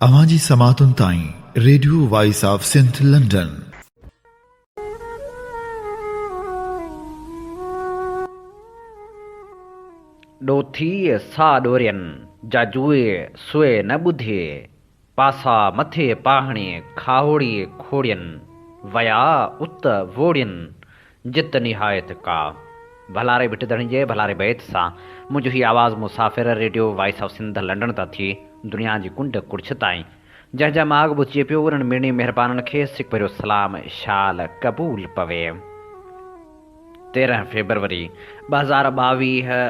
اوهان جي سماعتن تائين radio voice of Sindh London. ڏوٿيء سا ڏورين جا جوئي سوئي نه ٻڌي، پاسا مٿي پاهڻي کاهوڙي کوڙين، ويا ات ووڙين جت نهايت ڪا ڀلاري ڀٽ ڌڻي جي ڀلاري بيت سان منهنجو هي آواز مسافر radio voice of Sindh London تان ٿي دنيا جي ڪنڊ ڪڙڇ تائين جنهن جا ماڳ ٻڌجي پيو انهن ميڙني مهربانن کي سڪ ڀريو سلام شال قبول پوي. تيرنهن فيبروري ٻه هزار ٻاويهه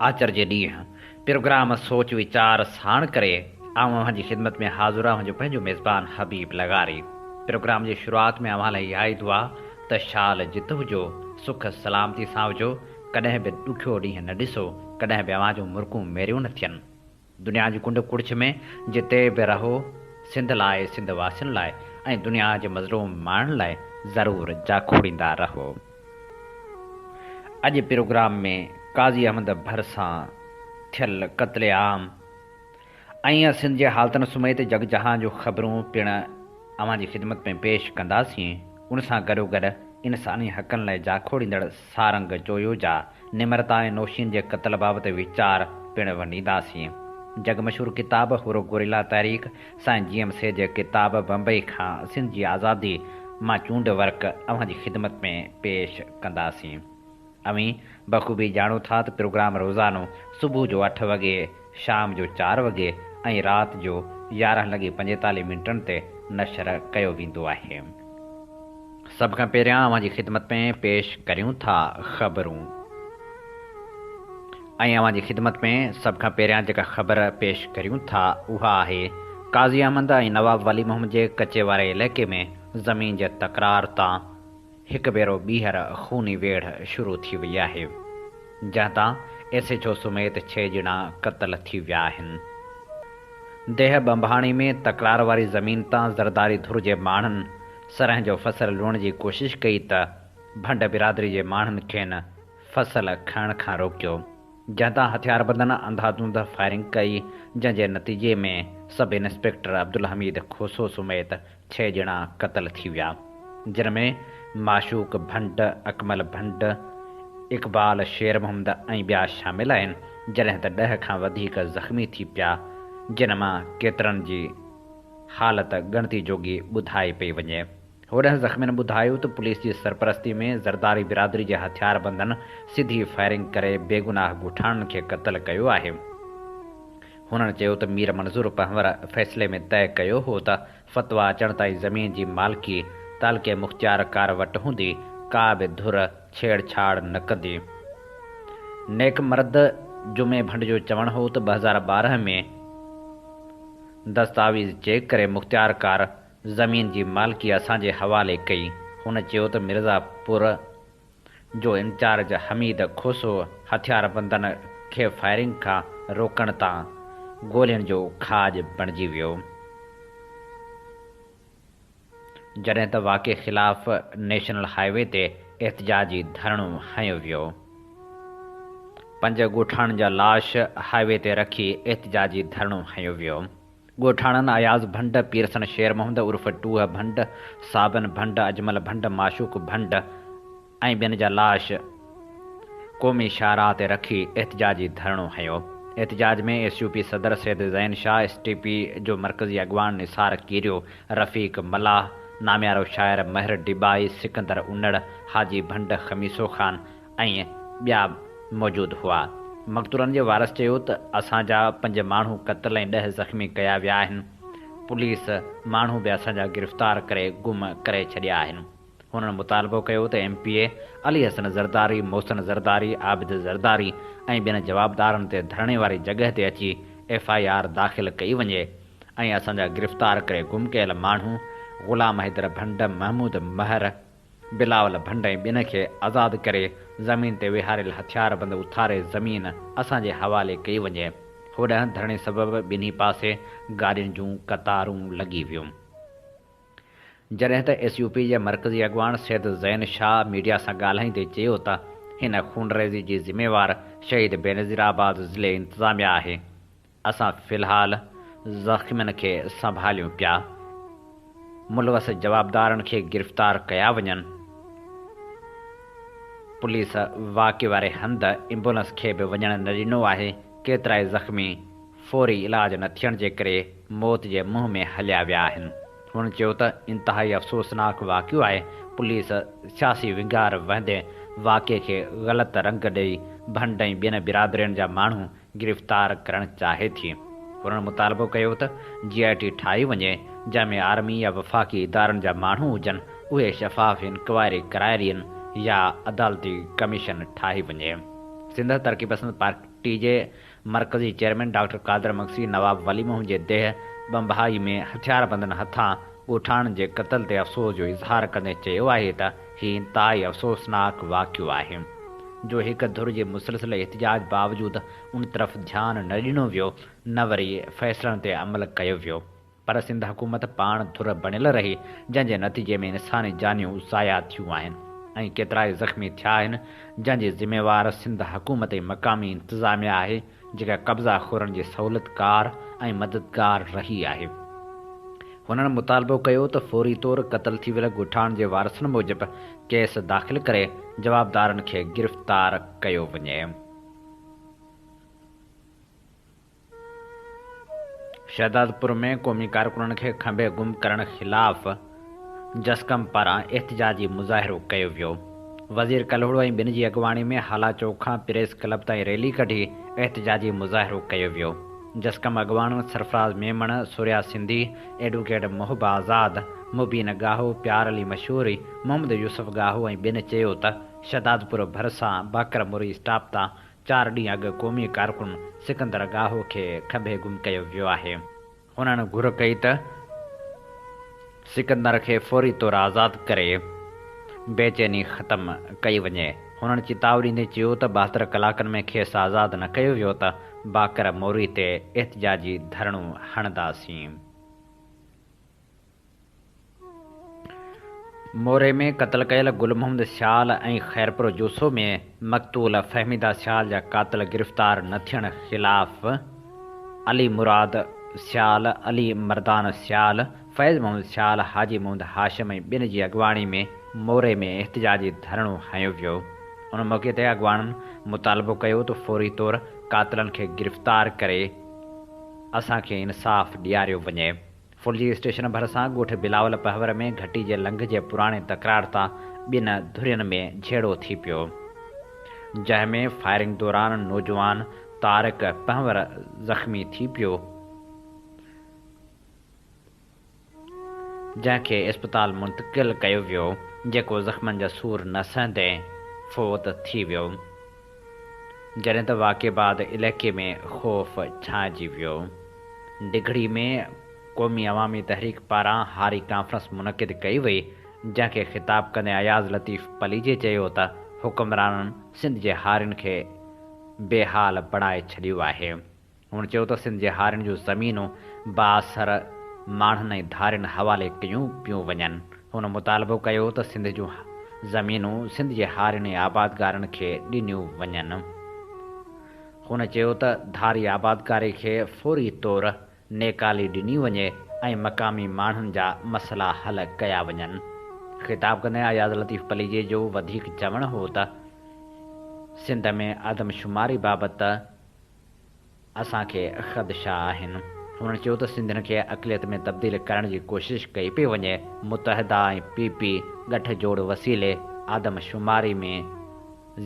آچر جي ڏينهن پروگرام سوچ ويچار ساڻ ڪري آئون اوهان جي خدمت ۾ حاضر آهيان جو پنهنجو ميزبان حبيب لغاري پروگرام جي شروعات ۾ اوهان لاء اها ئي دعا ته شال جت هجو سک سلامتي سان هجو ڪڏهن به ڏکيو ڏينهن نه ڏسو ڪڏهن به اوهان جون مرڪون ميريون نه ٿين دنيا جي ڪنڊ ڪڙڇ ۾ جتي به رهو سنڌ لاء سنڌ واسين لاء ۽ دنيا جي مظلوم ماڻهن لاء ضرور جاکوڙيندا رهو. اڄ پروگرام ۾ قاضي احمد ڀر سان ٿيل قتل عام ۽ سنڌ جي حالتن سميت جڳ جهان جون خبرون پڻ اوهان جي خدمت ۾ پيش ڪنداسين ان سان گڏوگڏ انساني حقن لاء جاکوڙيندڙ سارنگ چويو جا نمرتا ۽ نوشين جي قتل بابت ويچار پڻ ونڊينداسين جڳ مشهور ڪتاب هورو گوريلا تحريڪ سائين جي ايم سيد ڪتاب بمبئي کان سنڌ جي آزادي مان چونڊ ورق اوهان جي خدمت ۾ پيش ڪنداسين. اوهين بخوبي ڄاڻو ٿا ته پروگرام روزانو صبح جو اٺ وڳي، شام جو چار وڳي ۽ رات جو يارهن لڳي پنجيتاليهه منٽن تي نشر ڪيو ويندو آهي. سڀ کان پهريان اوهان جي خدمت ۾ پيش ڪريون ٿا خبرون ۽ اوهان جي خدمت ۾ سڀ کان پهريان جيڪا خبر پيش ڪريون ٿا اها آهي قاضي احمد ۽ نواب ولي محمد جي ڪچي واري علائقي ۾ زمين جي تڪرار تان هڪ ڀيرو ٻيهر خوني ويڙهه شروع ٿي وئي آهي جنهن تان ايس ايڇ او سميت ڇهه ڄڻا قتل ٿي ويا آهن ديهه ٻنڀاڻي ۾ تڪرار واري زمين تان زرداري ڌر جي ماڻهن سرهه جو فصل لوڻ جي ڪوشش ڪئي ته ڀنڊ برادري جي ماڻهن کين فصل کڻڻ کان روڪيو جنهن تان هٿياربندن انڌاڌونڌ فائرنگ ڪئي جنهن جي نتيجي ۾ سب انسپيڪٽر عبدالحميد کوسو سميت ڇهه ڄڻا قتل ٿي ويا جن ۾ معشوق ڀنڊ، اڪمل ڀنڊ، اقبال شيرمحمد ۽ ٻيا شامل آهن جڏهن ته ڏهه کان وڌيڪ زخمي ٿي پيا جن مان ڪيترن جي. حالت ڳڻتي جوڳي ٻڌائي پئي وڃي. هوڏانهن زخمين ٻڌايو ته پوليس جي سرپرستي ۾ زرداري برادري جي هٿياربندن سڌي فائرنگ ڪري بيگناهه ڳوٺاڻن کي قتل ڪيو آهي. هنن چيو ته مير منظور پنهور فيصلي ۾ طئي ڪيو هو ته فتويٰ اچڻ تائين زمين جي مالڪي تعلقي مختيار ڪار وٽ هوندي، ڪا به ڌر ڇيڙ ڇاڙ نه ڪندي. نيڪ مرد جمعي ڀنڊ جو چوڻ هو ته ٻه هزار ٻارهن ۾ دستاويز چيڪ ڪري مختيارڪار زمين جي مالڪي اسان جي حوالي ڪئي. هن چيو ته مرزا پور جو انچارج حميد کوسو هٿياربندن کي فائرنگ کان روڪڻ تان گولين جو کاڄ بڻجي ويو. جڏهن ته واقعي خلاف نيشنل هاء وي تي احتجاجي ڌرڻو هنيو ويو. پنج ڳوٺاڻن جا لاش هاء وي تي رکي احتجاجي ڌرڻو هنيو ويو. ڳوٺاڻن اياز ڀنڊ، پيرسڻ شير محمد عرف ٽوهه ڀنڊ، صابن ڀنڊ، اجمل ڀنڊ، معشوق ڀنڊ، ۽ ٻين جا لاش قومي شاهراهه تي رکي احتجاجي ڌرڻو هنيو. احتجاج ۾ ايس يو پي صدر Syed Zain Shah, S T P جو مرڪزي اڳواڻ نثار ڪيريو، رفيق ملاح، ناميارو شاعر مهر ڊيٻائي، سڪندر انڙ، حاجي ڀنڊ، خميسو خان ۽ ٻيا موجود هئا. مقتولن جي وارث چيو ته اسان جا پنج ماڻهو قتل ۽ ڏهه زخمي ڪيا ويا آهن، پوليس ماڻهو به اسان جا گرفتار ڪري گم ڪري ڇڏيا آهن. هنن مطالبو ڪيو ته M P A Ali Hassan Zardari, Mohsin Zardari, Abid Zardari ۽ ٻين جوابدارن تي ڌرڻي واري جڳهه تي اچي ايف آء آر داخل ڪئي وڃي ۽ اسان جا گرفتار ڪري گم ڪيل ماڻهو غلام حيدر ڀنڊ، محمود مهر، بلاول ڀنڊ ۽ ٻين کي آزاد ڪري زمين تي ويهاريل هٿياربند اٿاري زمين اسان جي حوالي ڪئي وڃي. هوڏانهن ڌرڻي سبب ٻنهي پاسي گاڏين جون قطارون لڳي ويون. جڏهن ته ايس يو پي جي مرڪزي اڳواڻ سيد زين شاهه ميڊيا سان ڳالهائيندي چيو ته هن خونريزي جي ذميوار شهيد بينظير آباد ضلعي انتظاميا آهي، اسان في الحال زخمين کي سنڀاليون پيا، ملوث جوابدارن کي گرفتار ڪيا وڃن، پوليس واقعي واري هنڌ ايمبولنس کي به وڃڻ نه ڏنو آهي، ڪيترائي زخمي. فوري علاج نه ٿيڻ جي ڪري موت جي منهن ۾ هليا ويا آهن. هن چيو ته انتهائي افسوسناڪ واقعو آهي، پوليس سياسي ونگار وهندي واقعي کي غلط رنگ ڏئي ڀنڊ ۽ ٻين برادرين جا ماڻهو گرفتار ڪرڻ چاهي ٿي. هنن مطالبو ڪيو ته جي آء ٽي ٺاهي وڃي، جنهن ۾ آرمي يا وفاقي ادارن جا ماڻهو هجن، اهي شفاف انڪوائري ڪرائرين يا عدالتي ڪميشن ٺاهي وڃي. سنڌ ترقي پسند پارٽي جي مرڪزي چيئرمين ڊاڪٽر قادر مگسي نواب ولي محمد جي ديهه ٻنڀائي ۾ هٿياربندن هٿان ڳوٺاڻن جي قتل تي افسوس جو اظهار ڪندي چيو آهي ته هي انتهائي افسوسناڪ واقعو آهي جو هڪ ڌر جي مسلسل احتجاج باوجود ان طرف ڌيان نه ڏنو ويو نه وري فيصلن تي عمل ڪيو ويو. پر سنڌ حڪومت پاڻ ڌر بڻيل رهي، جنهن جي نتيجي ۾ انساني جانيون ضايع ٿيون آهن ۽ ڪيترائي زخمي ٿيا آهن، جنهن جي ذميوار سنڌ حڪومت ۽ مقامي انتظاميا آهي، جيڪا قبضا خورن جي سهولتڪار ۽ مددگار رهي آهي. هنن مطالبو ڪيو ته فوري طور قتل ٿي ويل ڳوٺاڻن جي وارثن موجب ڪيس داخل ڪري جوابدارن کي گرفتار ڪيو وڃي. شهدادپور ۾ قومي ڪارڪنن کي کنڀي گم ڪرڻ خلاف جسقم پاران احتجاجي مظاهرو ڪيو ويو، وزير ڪلهوڙو ۽ ٻن جي اڳواڻي ۾ هالا چوڪ کان پريس ڪلب تائين ريلي ڪڍي احتجاجي مظاهرو ڪيو ويو، جسقم اڳواڻن سرفراز ميمڻ، سوريا سنڌي، ايڊووڪيٽ محب آزاد، مبين ڳاهو، پيار علي مشوري، محمد يوسف ڳاهو ۽ ٻين چيو ته شهدادپور ڀرسان باقرموري اسٽاپ تان چار ڏينهن اڳ قومي ڪارڪن سڪندر ڳاهو کي کٻي گم ڪيو ويو آهي. انهن گهر ڪئي ته سڪندر کي فوري طور آزاد ڪري بيچيني ختم ڪئي وڃي. هنن چتاء ڏيندي چيو ته ٻاهتر ڪلاڪن ۾ کيس آزاد نه ڪيو ويو ته باقر موري تي احتجاجي ڌرڻو هڻنداسين. موري ۾ قتل ڪيل گل محمد سيال ۽ خيرپور جوسو ۾ مقتول فهميده سيال جا قاتل گرفتار نه ٿيڻ خلاف علي مراد سيال، علي مردان سيال، فيض محمد سيال، حاجي محمد هاشم ۽ ٻين جي اڳواڻي ۾ موري ۾ احتجاجي ڌرڻو هنيو ويو. ان موقعي تي اڳواڻن مطالبو ڪيو ته فوري طور قاتلن کي گرفتار ڪري اسان کي انصاف ڏياريو وڃي. ڦرلي اسٽيشن ڀرسان ڳوٺ بلاول پهور ۾ گهٽي جي لنگهه جي پراڻي تڪرار تان ٻن ڌرين ۾ جهيڙو ٿي پيو، جنهن ۾ فائرنگ دوران نوجوان طارق پنهور زخمي ٿي پيو، جنهن کي اسپتال منتقل ڪيو ويو، جيڪو زخمن جا سور نه سهندي فوت ٿي ويو. جڏهن ته واقعي بعد علائقي ۾ خوف ڇانئجي ويو. ڊگهڙي ۾ قومي عوامي تحريڪ پاران هاري ڪانفرنس منعقد ڪئي وئي، جنهن کي خطاب ڪندي اياز لطيف پليجي چيو ته حڪمرانن سنڌ جي هارين کي بي حال بڻائي ڇڏيو آهي. هن چيو ته سنڌ جي هارين جون زمينون بااثر ماڻهن ۽ ڌارين حوالي ڪيون پيون وڃن. هن مطالبو ڪيو ته سنڌ جون زمينون سنڌ جي هارين ۽ آبادگارن کي ڏنيون وڃن. هن چيو ته ڌاري آبادگاري کي فوري طور نيڪالي ڏني وڃي ۽ مقامي ماڻهن جا مسئلا حل ڪيا وڃن. خطاب ڪندي اياز لطيف پليجي جو وڌيڪ چوڻ هو ته سنڌ ۾ آدمشماري بابت اسان کي خدشا آهن. هنن چيو ته سنڌين کي اقليت ۾ تبديل ڪرڻ جي ڪوشش ڪئي پئي وڃي، متحده ۽ پي پي ڳٺ جوڙ وسيلي آدم شماري ۾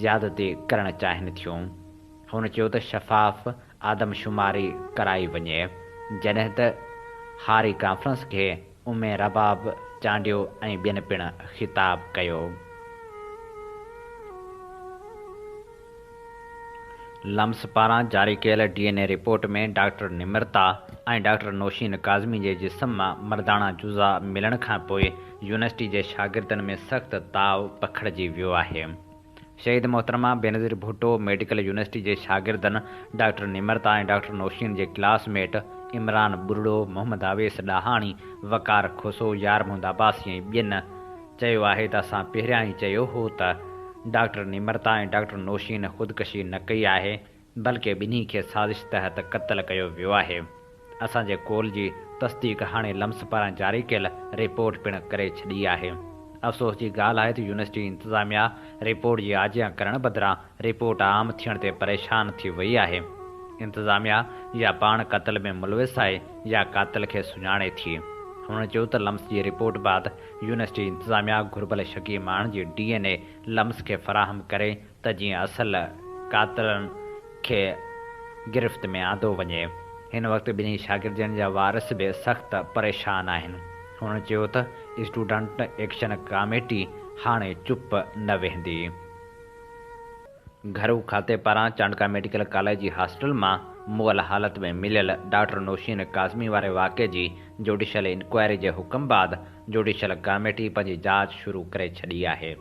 زيادتي ڪرڻ چاهين ٿيون. هنن چيو ته شفاف آدم شماري ڪرائي وڃي، جڏهن ته هاري ڪانفرنس کي امين رباب، چانڊيو ۽ ٻين پڻ خطاب ڪيو. لمس پاران جاري ڪيل D N A report ۾ doctor Namrata ۽ doctor Nausheen Kazmi جي جسم مان مرداڻا جزا ملڻ کان پوء يونيورسٽي جي شاگردن ۾ سخت تاء پکڙجي ويو آهي. شهيد محترمه بينظير ڀٽو ميڊيڪل يونيورسٽي جي شاگردن ڊاڪٽر نمرتا ۽ ڊاڪٽر نوشين جي ڪلاس ميٽ عمران ٻرڙو، محمد اويس ڏاهاڻي، وقار کوسو، يارمحمد عباسي ۽ ٻين چيو آهي ته اسان پهريان ئي چيو هو ته ڊاڪٽر نمرتا ۽ ڊاڪٽر نوشين خودڪشي نه ڪئي آهي بلڪه ٻنهي کي سازش تحت قتل ڪيو ويو آهي. اسان جي قول جي تصديق هاڻي لمس پاران جاري ڪيل رپورٽ پڻ ڪري ڇڏي آهي. افسوس جي ڳالهه آهي ته يونيورسٽي انتظاميا رپورٽ جي آجيان ڪرڻ بدران رپورٽ عام ٿيڻ تي پريشان ٿي وئي آهي. انتظاميا يا پاڻ قتل ۾ ملوث آهي يا قاتل کي سڃاڻي ٿي. هن چيو ته لمس جي رپورٽ بعد يونيورسٽي انتظاميا گهربل شڪي ماڻهن جي ڊي اين اي لمس کي فراهم ڪري ته جيئن اصل قاتلن کي گرفت ۾ آندو وڃي. هن وقت ٻنهي شاگردين جا وارث به سخت پريشان آهن. هنن چيو ته اسٽوڊنٽ ايڪشن ڪاميٽي هاڻي چپ نه ويهندي. گهرو کاتي پاران چانڊڪا ميڊيڪل ڪاليج جي هاسٽل مان مئل حالت ۾ مليل ڊاڪٽر نوشين ڪاظمي واري واقعي جي جوڊيشل انڪوائري جي حڪم بعد جوڊيشل ڪاميٽي پنهنجي جاچ شروع ڪري ڇڏي آهي.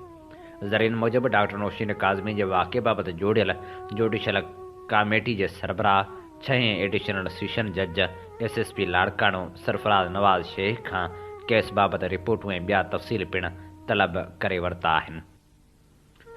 ذريعن موجب ڊاڪٽر نوشين ڪاظمي جي واقعي بابت جوڙيل جوڊيشل ڪاميٽي جي سربراهه ڇهين ايڊيشنل سيشن جج S S P Larkana Sarfraz Nawaz Shaikh کان ڪيس بابت رپورٽون ۽ ٻيا تفصيل پڻ طلب ڪري ورتا آهن.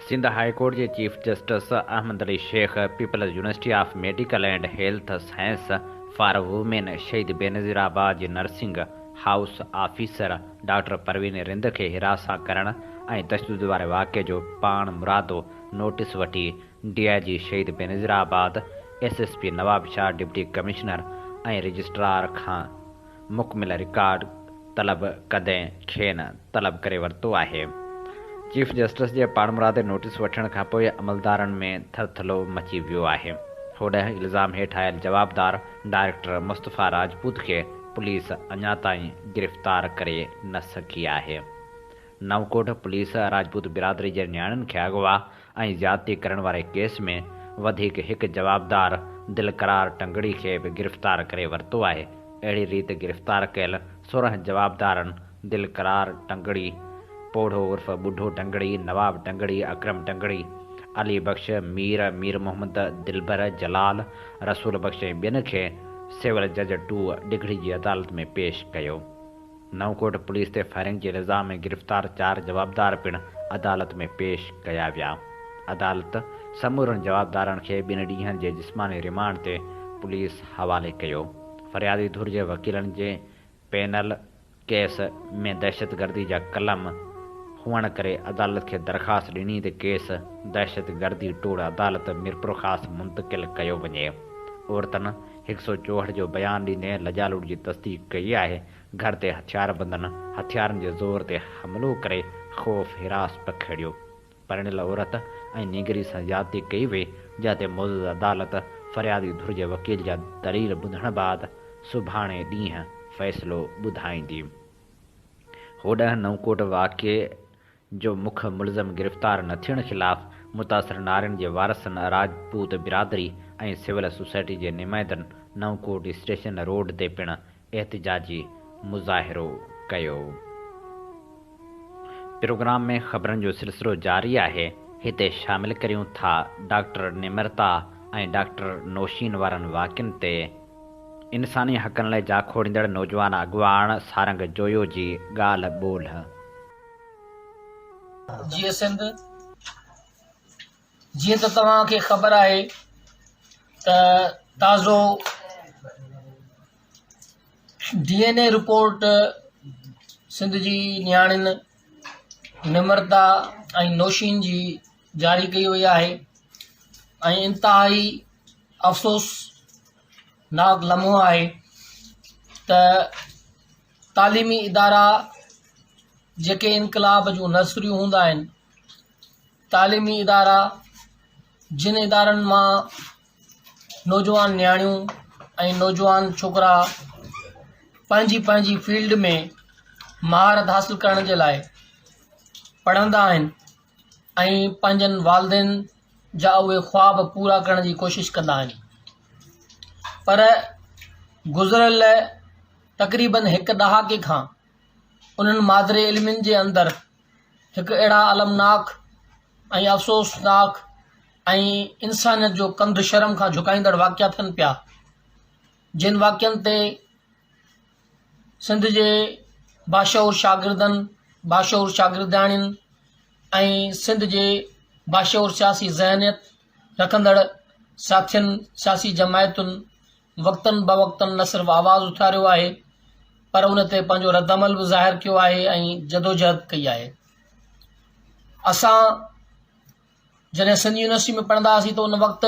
سنڌ هاء ڪورٽ جي chief justice Ahmed Ali Shaikh, peoples university of medical and health science for women Shaheed Benazirabad جي nursing house officer doctor Parveen Rind کي حراسان ڪرڻ ۽ تشدد واري واقعي جو پاڻ مرادو نوٽيس وٺي D I G Shaheed Benazirabad, S S P Nawab Shah, deputy commissioner ۽ registrar کان مڪمل رڪارڊ طلب ڪندي کين طلب ڪري ورتو آهي. چيف جسٽس جي پاڻمرادي نوٽيس وٺڻ کانپوء عملدارن ۾ ٿرٿلو مچي ويو آهي. هوڏانهن الزام هيٺ آيل جوابدار ڊائريڪٽر مصطفيٰ راجپوت کي پوليس اڃا تائين گرفتار ڪري نه سگهي آهي. نئون ڪوٽ پوليس راجپوت برادري جي نياڻين کي اغوا، ۽ زيادتي ڪرڻ واري ڪيس ۾ وڌيڪ هڪ جوابدار دلقرار ٽنگڙي کي به گرفتار ڪري ورتو آهي، اهڙي ريت گرفتار ڪيل سورهن جوابدارن دلقرار ٽنگڙي، پوڙهو عرف ٻڍو ٽنگڙي، نواب ٽنگڙي، اڪرم ٽنگڙي، علي بخش، مير، مير محمد، دلبر، جلال، رسول بخش ۽ ٻين کي سول جج ٽو ڊگهڙي جي عدالت ۾ پيش ڪيو. نئونڪوٽ پوليس تي فائرنگ جي الزام ۾ گرفتار چار جوابدار پڻ عدالت ۾ پيش ڪيا ويا. عدالت سمورن جوابدارن کي ٻن ڏينهن جي جسماني ريمانڊ تي پوليس حوالي ڪيو. فريادي ڌر جي وڪيلن جي پينل ڪيس ۾ دهشتگردي جا قلم هئڻ ڪري عدالت کي درخواست ڏني ته ڪيس دهشتگردي ٽوڙ عدالت ميرپورخاص منتقل ڪيو وڃي. عورتن هڪ سؤ چوهٺ جو بيان ڏيندي لجا لوٽ جي تصديق ڪئي آهي، گهر تي هٿياربندن هٿيارن جي زور تي حملو ڪري خوف هراس پکيڙيو، پرڻيل عورت ۽ نينگري سان زيادتي ڪئي وئي، جنهن تي معزز عدالت فريادي ڌر جي وڪيل جا دليل ٻڌڻ بعد سڀاڻي ڏينهن فيصلو ٻڌائيندي. هوڏانهن نئونڪوٽ واقعي جو مک ملزم گرفتار نه ٿيڻ خلاف متاثر نارين جي وارثن، راجپوت برادري ۽ سول سوسائٽي جي نمائندن نئون ڪوٽ اسٽيشن روڊ تي پڻ احتجاجي مظاهرو ڪيو. پروگرام ۾ خبرن جو سلسلو جاري آهي، هتي شامل ڪريون ٿا ڊاڪٽر نمرتا ۽ ڊاڪٽر نوشين وارن واقعن تي، انساني حقن لاء جاکوڙيندڙ نوجوان اڳواڻ سارنگ جويو جي ڳالهه ٻولهه. جيئي سنڌ جيئن ته توهان کي خبر آهي ته تازو D N A report Sindh جي نياڻين نمرتا ۽ نوشين جي جاري ڪئي وئي آهي ۽ انتهائي افسوسناڪ لمحو آهي ته تعليمي ادارا جيڪي انقلاب جون نرسريون هوندا آهن، تعليمي ادارا جن ادارن مان نوجوان نياڻيون ۽ نوجوان ڇوڪرا پنهنجي پنهنجي فيلڊ ۾ مهارت حاصل ڪرڻ جي لاء پڙهندا آهن ۽ پنهنجن والدين جا اهي خواب پورا ڪرڻ جي ڪوشش ڪندا آهن پر گذريل تقريباً هڪ ڏهاڪي کان انهن مادري علمين جي اندر هڪ اهڙا المناڪ ۽ افسوسناڪ ۽ انسانيت جو ڪنڌ شرم کان جهڪائيندڙ واقعا ٿين پيا جن واقعن تي سنڌ جي باشعور شاگردن، باشعور شاگردياڻين ۽ سنڌ جي باشعور سياسي ذهنيت رکندڙ ساٿين سياسي جماعتن وقتن بوقتن نه صرف آواز اٿاريو آهي پر ان تي پنهنجو رد عمل به ظاهر ڪيو آهي ۽ جدوجهد ڪئي آهي اسان جڏهن سنڌ يونيورسٽي ۾ پڙهندا هئاسين ته ان وقت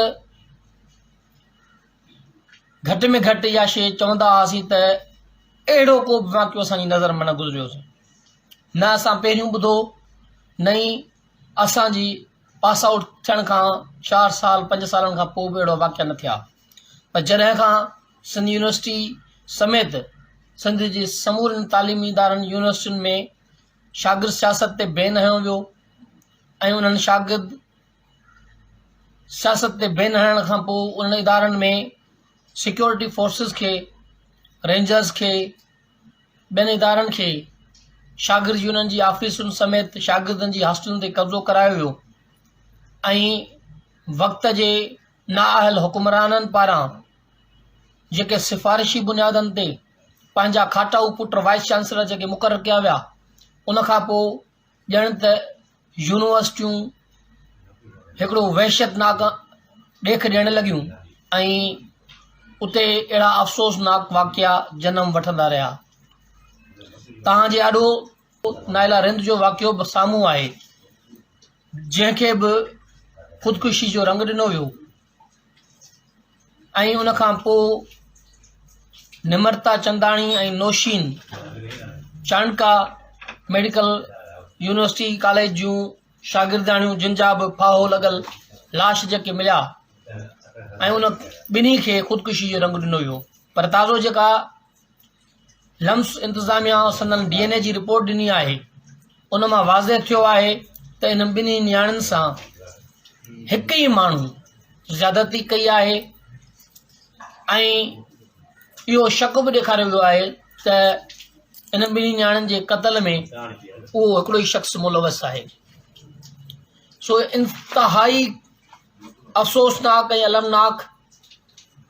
گهٽ ۾ گهٽ اها شيء چوندا هئاسين ته اهڙو ڪو به واقعو اسان جي نظر مان نه گذريو هو نه اسان پهريون ٻڌو نه ئي اسان جي پاس آؤٽ ٿيڻ کان چار سال پنج سالن کان پوء به اهڙا واقعا نه ٿيا پر جڏهن کان سنڌ يونيورسٽي سميت سنڌ جي سمورن تعليمي ادارن يونيورسٽين ۾ شاگرد سياست تي بين هنيو ويو ۽ انهن شاگرد سياست تي بين هڻڻ کان پوء انهن ادارن ۾ سيڪيورٽي فورسز کي رينجرز کي ٻين ادارن کي شاگرد يونين جي آفيسن سميت شاگردن جي هاسٽلن تي قبضو ڪرايو ويو ۽ وقت جي نااهل حڪمرانن پاران جيڪي سفارشي بنيادن تي پنهنجا کاٽائو پٽ وائيس چانسلر جيڪي مقرر ڪيا ويا ان کان پوء ڄڻ ته يونيورسٽيون هڪڙو وحشتناڪ ڏيک ڏيڻ لڳيون ۽ اتي اهڙا افسوسناڪ واقعا جنم وٺندا رهيا تان جي آڏو نائلا رند جو واقعو به سامهون آهي جنهن کي به خودڪشي جو رنگ ڏنو ويو ۽ ان کان پوء Namrata Chandani ۽ Nausheen Chandka medical university college جون شاگردياڻيون جن جا به ڦاهو لڳل لاش جيڪي مليا ۽ ان ٻنهي کي خودڪشي جو رنگ ڏنو ويو پر تازو جيڪا لمس انتظاميا سندن ڊي اين اي جي رپورٽ ڏني آهي ان مان واضح ٿيو آهي ته انهن ٻنهي نياڻين سان هڪ ئي ماڻهو زيادتي ڪئي آهي ۽ اهو شڪ به ڏيکاريو ويو آهي ته انهن ٻنهي نياڻين جي قتل ۾ اهو هڪڙو ئي شخص ملوث آهي سو انتهائي افسوسناڪ ۽ المناڪ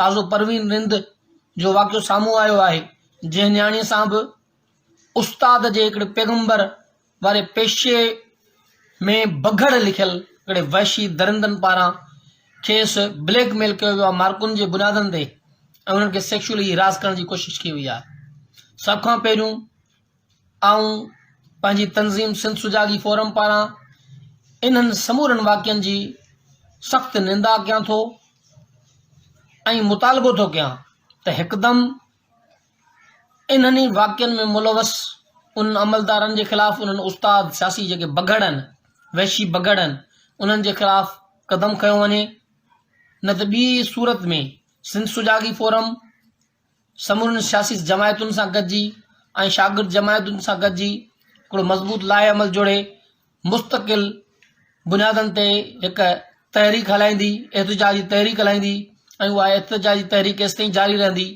تازو پروين رند جو واقعو سامهون آيو آهي جنهن نياڻي سان به استاد جي هڪڙي پيغمبر واري پيشي ۾ بگهڙ لکيل هڪڙي وحشي درندن پاران کيس بليڪ ميل ڪيو ويو آهي مارڪن جي بنيادن تي انهن کي سيڪشولي هراس ڪرڻ جي ڪوشش ڪئي وئي آهي سڀ کان پهريون آئون پنهنجي تنظيم سنڌ سجاڳي فورم پاران انهن سمورن واقعن جي سخت نندا ڪيان ٿو ۽ مطالبو ٿو ڪيان ته هڪدم انهن ئي واقعن ۾ ملوث ان عملدارن جي خلاف انهن استاد سياسي جيڪي بگڙن وحشي بگڙن انهن جي خلاف قدم کنيو وڃي نه ته ٻي صورت ۾ سنڌ سجاڳي فورم سمورن سياسي جماعتن سان گڏجي ۽ شاگرد جماعتن سان گڏجي هڪڙو مضبوط لائحه عمل جوڙي مستقل بنيادن تي هڪ تحريڪ هلائيندي احتجاجي تحريڪ هلائيندي ۽ اها احتجاجي تحريڪ ايستائين جاري رهندي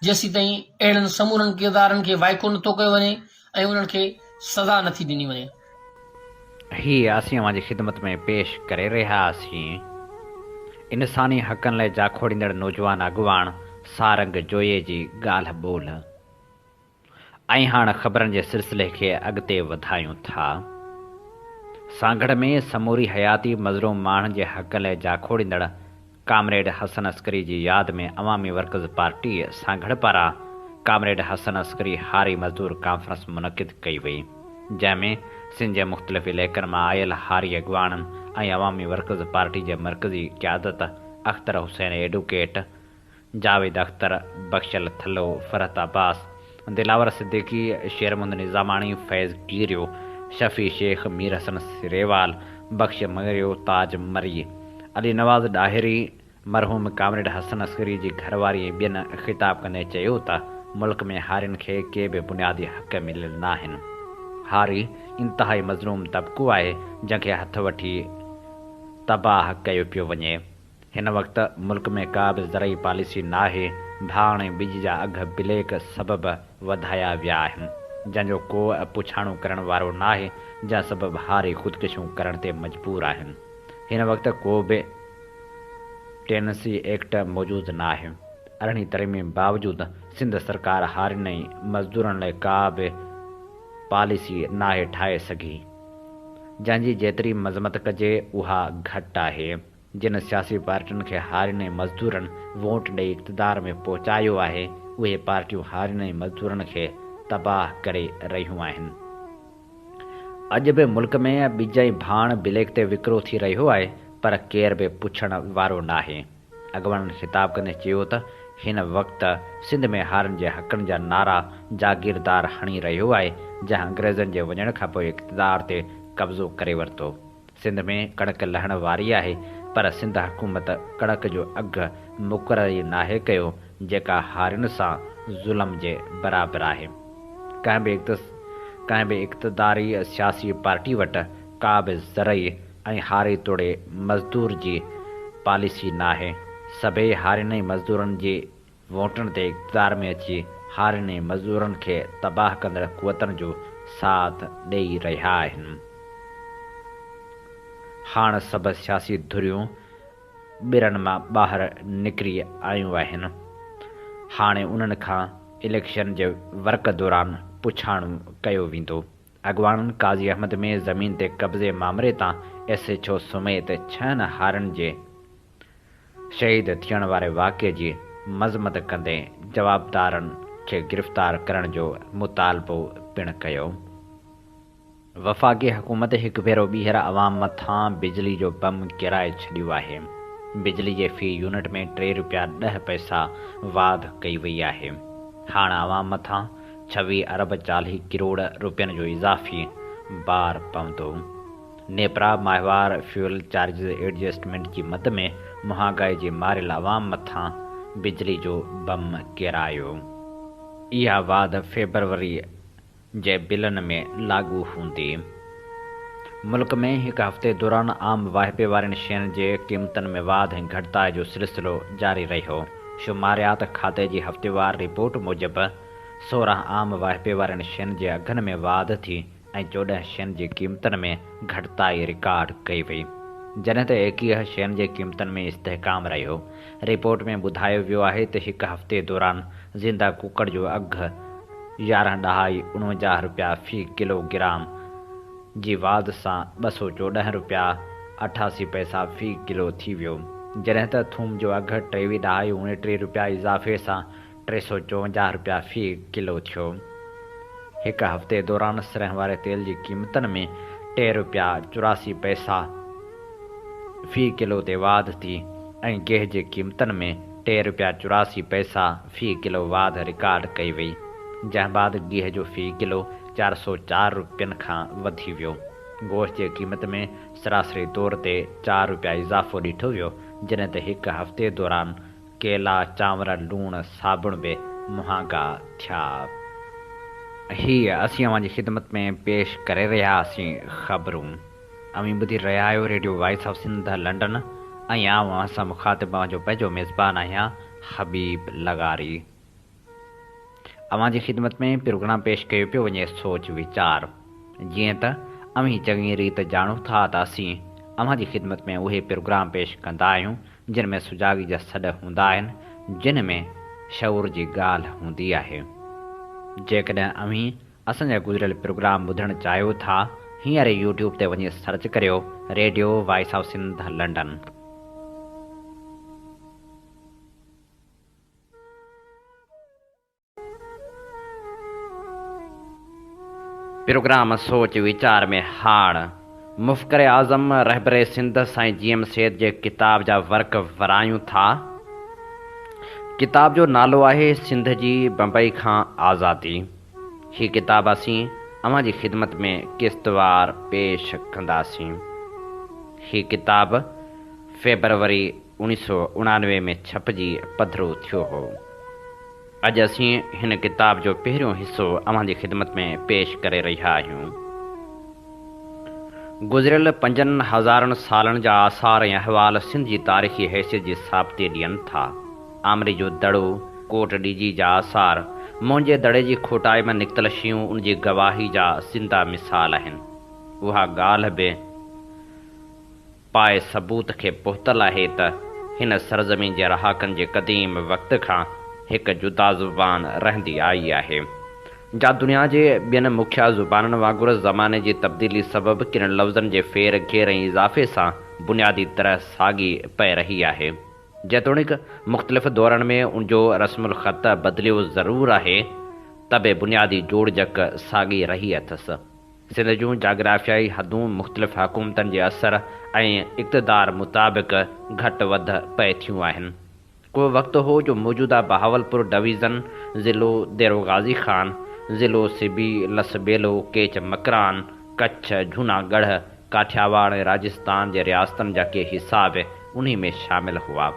جيسين تائين اهڙن سمورن ڪردارن کي وائکو نٿو ڪيو وڃي ۽ انهن کي سزا نه ٿي ڏني وڃي. هي اسين اوهان جي خدمت ۾ پيش ڪري رهيا آسين. انساني حقن لاء جاکوڙيندڙ نوجوان اڳواڻ سارنگ جويي جي ڳالهه ٻولهه. ۽ هاڻ خبرن جي سلسلي کي اڳتي وڌايون ٿا. سانگهڙ ۾ سموري حياتي مظلوم ماڻهن جي حقن لاء جاکوڙيندڙ، ڪامريڊ حسن عسڪري جي ياد ۾ عوامي ورڪرز پارٽيء سانگهڙ پاران ڪامريڊ حسن عسڪري هاري مزدور ڪانفرنس منعقد ڪئي وئي، جنهن ۾ سنڌ جي مختلف عليقن مان آيل هاري اڳواڻن ۽ عوامي ورڪرز پارٽي جي مرڪزي قيادت اختر حسين ايڊوڪيٽ، جاويد اختر، بخشل ٿلو، فرحت عباس، دلاور صديقي، شيرمحمد نظاماڻي، فيض ڪيريو، شفيع شيخ، مير حسن سريوال، بخش مڱريو، تاج مري، علي نواز ڏاهري، مرحوم ڪامريڊ حسن اصغري جي گهر واري ۽ ٻين خطاب ڪندي چيو ته ملڪ ۾ هارين کي ڪي به بنيادي حق مليل ناهن. هاري انتهائي مظلوم طبقو آهي، جنهن کي هٿ وٺي تباهه ڪيو پيو وڃي. هن وقت ملڪ ۾ ڪا به زرعي پاليسي ناهي، ڀاڻ ۽ ٻج جا اگهه بليڪ سبب وڌايا ويا آهن، جنهن جو ڪو پڇاڻو ڪرڻ وارو ناهي، جنهن سبب هاري خودڪشيون ڪرڻ تي مجبور آهن. هن وقت ڪو به ٽيننسي ايڪٽ موجود ناهي، ارڙهين ترميم باوجود سنڌ سرڪار هارين ۽ مزدورن لاء ڪا به پاليسي ناهي ٺاهي سگهي، جنهن جي جيتري مذمت ڪجي اها گهٽ آهي. جن سياسي پارٽين کي هارين ۽ مزدورن ووٽ ڏئي اقتدار ۾ پهچايو آهي، اهي پارٽيون هارين ۽ مزدورن کي تباهه ڪري رهيون آهن. اڄ به ملڪ ۾ ٻج ۽ ڀاڻ بليڪ تي وڪرو ٿي رهيو آهي پر ڪير به پڇڻ وارو ناهي. اڳواڻن خطاب ڪندي چيو ته هن وقت سنڌ ۾ هارين جي حقن جا نعرا جاگيردار هڻي رهيو آهي، جنهن انگريزن جي وڃڻ کانپوء اقتدار تي قبضو ڪري ورتو. سنڌ ۾ ڪڻڪ لهڻ واري آهي پر سنڌ حڪومت ڪڻڪ جو اگهه مقرر ئي ناهي ڪيو جيڪا هارين سان ظلم جي برابر آهي. ڪنهن به ڪنهن به اقتداري سياسي پارٽي وٽ ڪا به زرعي ۽ هاري توڙي مزدور جي پاليسي ناهي. سڀئي هارين ۽ مزدورن جي ووٽن تي اقتدار ۾ اچي هارين ۽ مزدورن کي تباهه ڪندڙ قوتن جو ساٿ ڏئي رهيا آهن. هاڻ سڀ سياسي ڌريون ٻرن مان ٻاهر نڪري آيون آهن. هاڻي انهن کان اليڪشن جي ورق دوران پڇاڻو ڪيو ويندو. اڳواڻن قاضي احمد ۾ زمين تي قبضي مامري تان ايس ايڇ او سميت ڇهن هارين جي شهيد ٿيڻ واري واقعي جي مذمت ڪندي جوابدارن کي گرفتار ڪرڻ جو مطالبو پڻ ڪيو. وفاقي حڪومت هڪ ڀيرو ٻيهر عوام مٿان بجلي جو بم ڪيرائي ڇڏيو آهي، بجلي جي في يونٽ ۾ ٽي رپيا ڏهه پئسا واڌ ڪئي وئي آهي، هاڻ عوام مٿان ڇويهه ارب چاليهه ڪروڙ رپين جو اضافي بار پوندو. نيپرا ماهوار فيول چارجز ايڊجسٽمينٽ جي مد ۾ مهانگائي جي ماريل عوام مٿان بجلي جو بم ڪيرايو. اها واڌ فيبروري جي بلن ۾ لاڳو هوندي. ملڪ ۾ هڪ هفتي دوران عام واهپي وارين شين جي قيمتن ۾ واڌ ۽ گهٽتائي جو سلسلو جاري رهيو. شماريات کاتي جي هفتيوار رپورٽ موجب سورهن عام واهپي وارين شين جي اگهن ۾ واڌ ٿي ۽ چوڏهن شين جي قيمتن ۾ گهٽتائي رڪارڊ ڪئي وئي، جڏهن ته ايڪيهه شين جي قيمتن ۾ استحڪام رهيو. رپورٽ ۾ ٻڌايو ويو آهي ته هڪ هفتي دوران زنده ڪڪڙ جو اگهه يارهن ڏهائي اڻونجاهه رپيا في ڪلو گرام جي واڌ سان ٻه سؤ چوڏهن رپيا اٺاسي پئسا في ڪلو ٿي ويو، جڏهن ته ٿوم جو اگهه ٽيوي ڏهائي اڻٽيهه رپيا اضافي سان ٽي سؤ چوونجاهه رپيا في ڪلو ٿيو. هڪ هفتي دوران سرهه واري تيل جي قيمتن ۾ ٽي رپيا چوراسي پئسا في ڪلو تي واڌ ٿي ۽ گيهه جي قيمتن ۾ ٽي رپيا چوراسي پئسا في ڪلو واڌ رڪارڊ ڪئي وئي، جنهن بعد گيهه جو في ڪلو چار سؤ چار رپين کان وڌي ويو. گوشت جي قيمت ۾ سراسري طور تي چار رپيا اضافو ڏٺو ويو، جڏهن ته هڪ هفتي دوران ڪيلا، چانور، لوڻ، صابڻ به مهانگا ٿيا. هي اسين اوهان جي خدمت ۾ پيش ڪري رهيا آهسين خبرون. اوهين ٻڌي رهيا آهيو radio voice of Sindh London ۽ آئون اوهان سان مخاطب اوهان جو پنهنجو ميزبان آهيان حبيب لغاري. اوهان جي خدمت ۾ پروگرام پيش ڪيو پيو وڃي سوچ ويچار جيئن ته اوهين چڱي ريت ڄاڻو ٿا ته اسين اوهان جي خدمت ۾ اهي پروگرام پيش ڪندا آهيون جن ۾ سجاڳي جا سڏ هوندا آهن جن ۾ شعور جي ڳالهه هوندي آهي جيڪڏهن اوهين اسان جا گذريل پروگرام ٻڌڻ چاهيو ٿا هينئر ئي يوٽيوب تي وڃي سرچ ڪريو radio voice of Sindh London. Programme سوچ ويچار ۾ هاڻ مفڪر اعظم رهبر سنڌ سائين جي ايم سيد جي ڪتاب جا ورق ورايون ٿا. ڪتاب جو نالو آهي سنڌ جي بمبئي کان آزادي. هي ڪتاب اسين اوهان جي خدمت ۾ قسطوار پيش ڪنداسين. هي ڪتاب فيبروري اوڻيھ سؤ اڻانوي ۾ ڇپجي پڌرو ٿيو هو. اڄ اسين هن ڪتاب جو پهريون حصو اوهان جي خدمت ۾ پيش ڪري رهيا آهيون. گذريل پنجن هزارن سالن جا آثار ۽ احوال سنڌ جي تاريخي حيثيت جي ثابتي ڏين ٿا. آمري جو دڙو، ڪوٽ ڏيجي جا آثار، موهنجي دڙي جي کوٽائي مان نڪتل شيون ان جي گواهي جا زنده مثال آهن. اها ڳالهه به. پائي ثبوت کي پهتل آهي ته هن سرزمين جي رهاڪن جي قديم وقت کان هڪ جدا زبان رهندي آئي آهي، جا دنيا جي ٻين مکيه زبانن وانگر زماني جي تبديلي سبب ڪن لفظن جي ڦير گهير ۽ اضافي سان بنيادي طرح ساڳي پئي رهي آهي. جيتوڻيڪ مختلف دورن ۾ ان جو رسم الخط بدليو ضرور آهي ته به بنيادي جوڙجڪ ساڳي رهي اٿس. سنڌ جون جاگرافيائي حدون مختلف حڪومتن جي اثر ۽ اقتدار مطابق گهٽ وڌ پئي ٿيون آهن. ڪو وقت هو جو موجوده بهاولپور ڊويزن، ضلعو ديرو غازي خان، ضلعو سبي، لس ٻيلو، ڪيچ مڪران، ڪڇ، جهونا ڳڙهه، ڪاٺياواڙ ۽ راجستان جي رياستن جا ڪي حصا به انهي ۾ شامل هئا.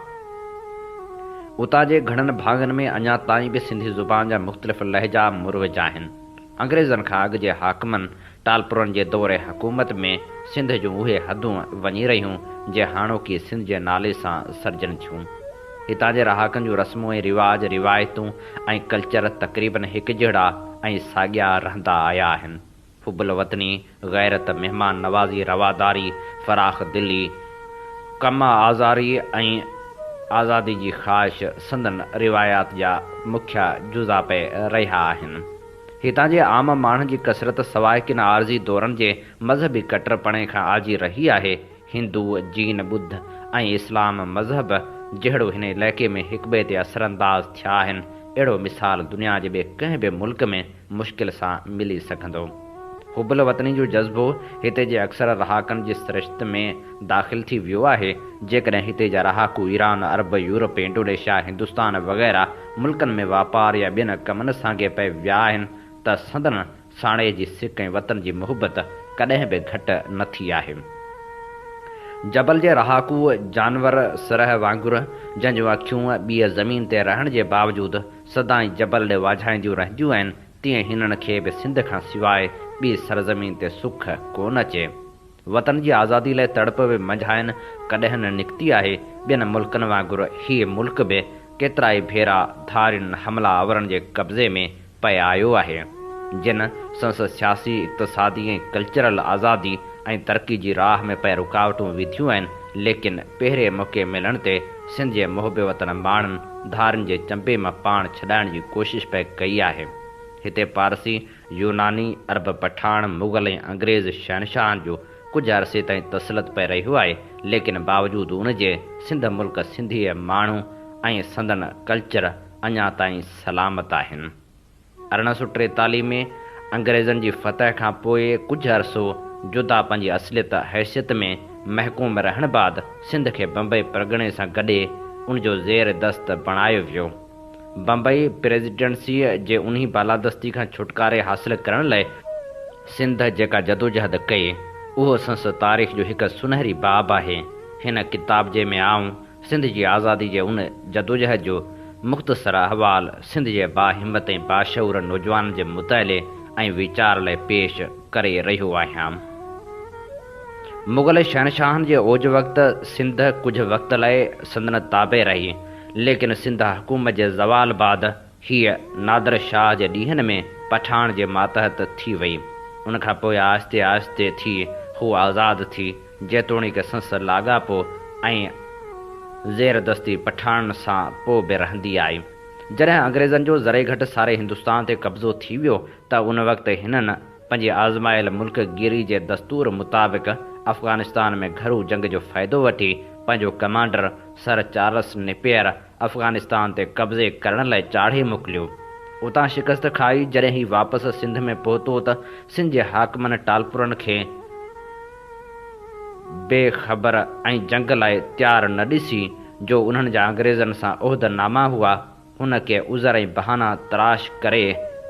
اتان جي گهڻن ڀاڱن ۾ اڃا تائين به سنڌي زبان جا مختلف لهجا مروج آهن. انگريزن کان اڳ جي حاڪمن ٽالپرن جي دور حڪومت ۾ سنڌ جون اهي حدون وڃي رهيون جي هاڻوڪي سنڌ جي نالي سان سڏجن ٿيون. هتان جي رهاڪن جون رسمون ۽ رواج، روايتون ۽ ڪلچر تقريبن هڪجهڙا ۽ ساڳيا رهندا آيا آهن. حب الوطني غيرت، مهمان نوازي، رواداري، فراخ دلي، ڪم آزاري ۽ آزادي جي خواهش سندن روايات جا مکيه جزا پئي رهيا آهن. هتان جي عام ماڻهن جي ڪثرت سواء ڪن عارضي دورن جي مذهبي ڪٽرپڻي کان آجي رهي آهي. هندو، جين، ٻڌ ۽ اسلام مذهب جهڙو هن علائقي ۾ هڪٻئي تي اثرانداز ٿيا آهن، اهڙو مثال دنيا جي ٻئي ڪنهن به ملڪ ۾ مشڪل سان ملي سگهندو. حب الوطني جو جذبو هتي جي اڪثر رهاڪن جي سرشت ۾ داخل ٿي ويو آهي. جيڪڏهن هتي جا رهاڪو Iran, Arab, Europe, Indonesia, Hindustan وغيره ملڪن ۾ واپار يا ٻين ڪمن سانگي پئي ويا آهن ته سندن ساڻيهه جي سڪ ۽ وطن جي محبت ڪڏهن به گهٽ نه ٿي آهي. جبل جي رهاڪو جانور سرهه وانگر جنهن جون اکيون ٻيء زمين تي رهڻ جي باوجود سدائين جبل ڏي واجهائينديون رهنديون آهن، تيئن هنن کي به سنڌ کان سواء ٻي سرزمين تي سک ڪونه اچي. وطن جي آزادي لاء تڙپ به منجهائن ڪڏهن نه نڪتي آهي. ٻين ملڪن وانگر هيء ملڪ به ڪيترائي ڀيرا ڌارين حملا آورن جي قبضي ۾ پئي آيو آهي، جن سنس سياسي، اقتصادي ۽ ڪلچرل آزادي ۽ ترقي جي راهه ۾ پئي رڪاوٽون وڌيون آهن، ليڪن پهرين موقعي ملڻ تي سنڌ جي محب وطن امباڻن ڌارين جي چنبي مان پاڻ ڇڏائڻ جي ڪوشش پئي ڪئي آهي. هتي پارسي، يوناني، عرب، پٺاڻ، مغل ۽ انگريز شهنشاهن جو ڪجهه عرصي تائين تسلط پئي رهيو آهي، ليڪن باوجود ان جي سنڌ ملڪ، سنڌي ماڻهو ۽ سندن ڪلچر اڃا تائين سلامت آهن. ارڙهن سؤ ٽيتاليهه ۾ انگريزن جي فتح کان پوء ڪجهه عرصو جدا پنهنجي اصليت حيثيت ۾ محڪوم رهڻ بعد سنڌ کي بمبئي پرڳڻي سان گڏي ان جو زير دست بڻايو ويو. بمبئي پريزيڊنسيء جي انهي بالادستي کان ڇوٽڪاري حاصل ڪرڻ لاء سنڌ جيڪا جدوجهد ڪئي اهو سنس تاريخ جو هڪ سونهري باب آهي. هن ڪتاب جنهن ۾ آئون سنڌ جي آزادي جي ان جدوجهد جو مختصر احوال سنڌ جي باهمت ۽ باشعور نوجوانن جي مطالعي ۽ ويچار لاء پيش ڪري رهيو آهيان. مغل شهنشاهن جي اوج وقت سنڌ ڪجهه وقت لاء سندن تابع رهي، ليڪن سنڌ حڪومت جي زوال بعد، هيء نادر شاهه جي ڏينهن ۾ پٺاڻ جي ماتحت ٿي وئي. ان کان پوء آهستي آهستي ٿي هوء آزاد ٿي، جيتوڻيڪ سنس لاڳاپو ۽ زير دستي پٺاڻن سان پوء به رهندي آئي. جڏهن انگريزن جو ذري گهٽ ساري هندستان تي قبضو ٿي ويو ته ان وقت هنن پنهنجي آزمايل ملڪ گيري جي دستور مطابق افغانستان ۾ گهرو جنگ جو فائدو وٺي پنهنجو commander sir Charles Napier Afghanistan تي قبضي ڪرڻ لاء چاڙهي موڪليو. اتان شڪست کائي جڏهن هي واپس سنڌ ۾ پهتو ته سنڌ جي حاڪمن ٽالپرن کي بي خبر ۽ جنگ لاء تيار نه ڏسي جو انهن جا انگريزن سان عهد ناما هئا، هن ڪي عذر ۽ بهانا تراش ڪري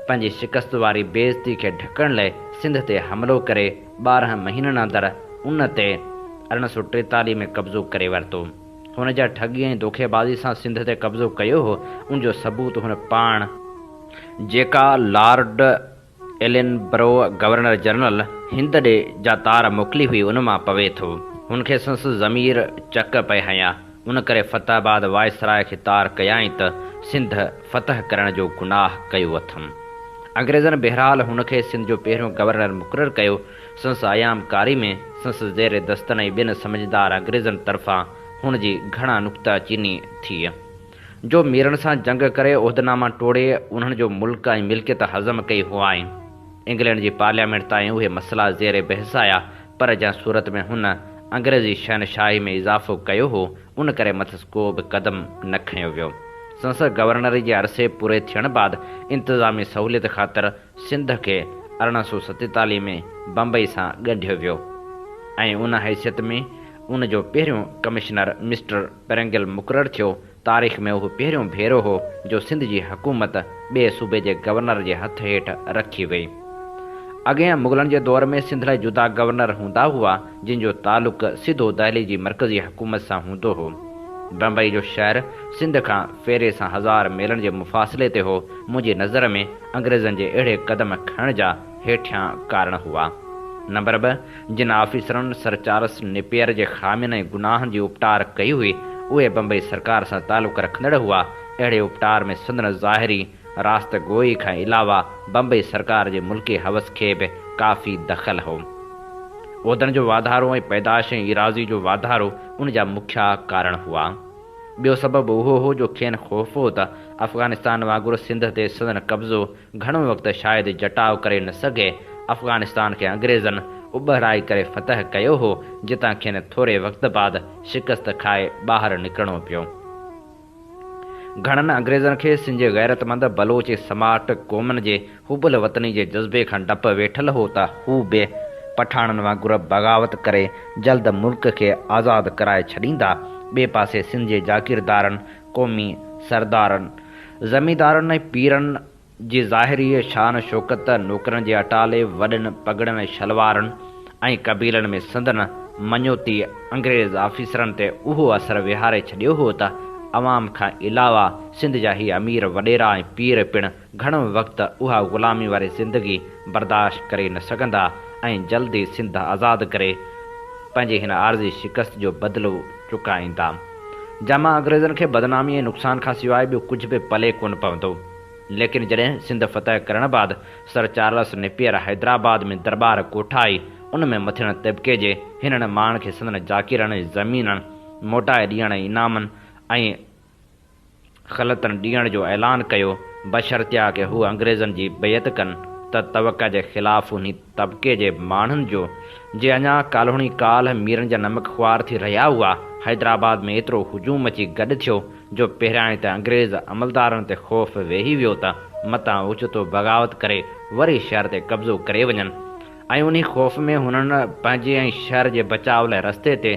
پنهنجي شڪست واري بي عزتي کي ڍڪڻ لاء سنڌ تي حملو ڪري ٻارهن مهينن اندر ان تي ارڙهن سؤ ٽيتاليهه ۾ قبضو ڪري ورتو. هن جا ٺڳي ۽ دوکيبازي سان سنڌ تي قبضو ڪيو هو، ان جو ثبوت هن پاڻ. جيڪا lord Ellenborough, governor general Hind ڏي، جا تار موڪلي هئي، ان مان پوي ٿو. هن کي سنس ضمير چڪ پئي هنيا، ان ڪري فتح آباد وائسراء کي تار ڪيائين ته سنڌ فتح ڪرڻ جو گناهه ڪيو اٿم. انگريزن بهرحال هن کي سنڌ جو پهريون گورنر مقرر ڪيو، سنس ايام ڪاري ۾ سنس زير دستن ۽ ٻين سمجهدار انگريزن طرفان هن جي گهڻا نڪته چيني ٿيء. جو ميرن سان جنگ ڪري عهدناما ٽوڙي انهن جو ملڪ ۽ ملڪيت هضم ڪئي هئائين. انگلينڊ جي پارليامينٽ تائين اهي مسئلا زير بحث آيا پر جنهن صورت ۾ هن انگريزي شهنشاهي ۾ اضافو ڪيو هو ان ڪري مٿس ڪو به قدم نه کنيو ويو. سنس گورنري جي عرصي پوري ٿيڻ بعد انتظامي سهوليت خاطر سنڌ کي ارڙهن سؤ ستيتاليهه ۾ بمبئي سان ڳنڍيو ويو ۽ ان حيثيت ۾ ان جو پهريون ڪمشنر مسٽر پرنگل مقرر ٿيو. تاريخ ۾ اهو پهريون ڀيرو هو جو سنڌ جي حڪومت ٻئي صوبي جي گورنر جي هٿ هيٺ رکي وئي. اڳيئن مغلن جي دور ۾ سنڌ لاء جدا گورنر هوندا هئا، جن جو تعلق سڌو دهلي جي مرڪزي حڪومت سان هوندو هو. بمبئي جو شهر سنڌ کان فيري سان هزار ميلن جي مفاصلي تي هو. منهنجي نظر ۾. انگريزن جي اهڙي قدم کڻڻ جا هيٺيان ڪارڻ هئا، نمبر ٻه، جن آفيسرن سر چارلس نيپيئر جي خامين ۽ گناهن جي اپٽار ڪئي هئي، اهي بمبئي سرڪار سان تعلق رکندڙ هئا، اهڙي اپٽار ۾ سندن ظاهري راست گوئي کان علاوه بمبئي سرڪار جي ملڪي حوس کي به ڪافي دخل هو. عهدن جو واڌارو ۽ پيدائش ۽ ايراضي جو واڌارو ان جا مکيه ڪارڻ هئا. ٻيو سبب اهو هو جو کين خوف هو ته افغانستان وانگر سنڌ تي سندن قبضو گهڻو وقت شايد جٽاء ڪري نه سگهي. افغانستان کي انگريزن اٻهرائي ڪري فتح ڪيو هو، جتان کين ٿوري وقت بعد شڪست کائي ٻاهر نڪرڻو پيو. گهڻن انگريزن کي سنجهي غيرتمند بلوچ سمارٽ قومن جي حب الوطني جي جذبي کان ڊپ ويٺل هو ته هو به پٺاڻن وانگر بغاوت ڪري جلد ملڪ کي آزاد ڪرائي ڇڏيندا. ٻئي پاسي سنڌ جي جاگيردارن، قومي سردارن، زميندارن ۽ پيرن جي ظاهري شان شوڪت، نوڪرن جي اٽالي وڏين پڳڙين ۽ شلوارن ۽ قبيلن ۾ سندن مڃوتي انگريز آفيسرن تي اهو اثر ويهاري ڇڏيو هو ته عوام کان علاوه سنڌ جا هي امير وڏيرا ۽ پير پڻ گهڻو وقت اها غلامي واري زندگي برداشت ڪري نه سگهندا ۽ جلد ئي سنڌ آزاد ڪري پنهنجي هن عارضي شڪست جو بدلو چڪائيندا جنهن مان انگريزن کي بدنامي ۽ نقصان کان سواء ٻيو ڪجهه به پلي ڪونه پوندو ليڪن جڏهن سنڌ فتح ڪرڻ بعد سر چارلس نيپيئر حيدرآباد ۾ درٻار ڪوٺائي ان ۾ مٿيڻ طبقي جي هنن ماڻهن کي سندن جاگيرن ۽ زمينن موٽائي ڏيڻ انعامن ۽ خلعتن ڏيڻ جو اعلان ڪيو، بشرطيڪه هو انگريزن جي بيعت ڪن ته توقع جي خلاف انهي طبقي جي ماڻهن جو، جي اڃا ڪالهوڻي ڪالهه ميرن جا نمڪ خوار ٿي رهيا هئا، حيدرآباد ۾ ايترو هجوم اچي گڏ ٿيو، جو پهريائين ته انگريز عملدارن تي خوف ويهي ويو ته متان اوچتو بغاوت ڪري وري شهر تي قبضو ڪري وڃن. ۽ انهي خوف ۾ هنن پنهنجي ۽ شهر جي بچاء لاء رستي تي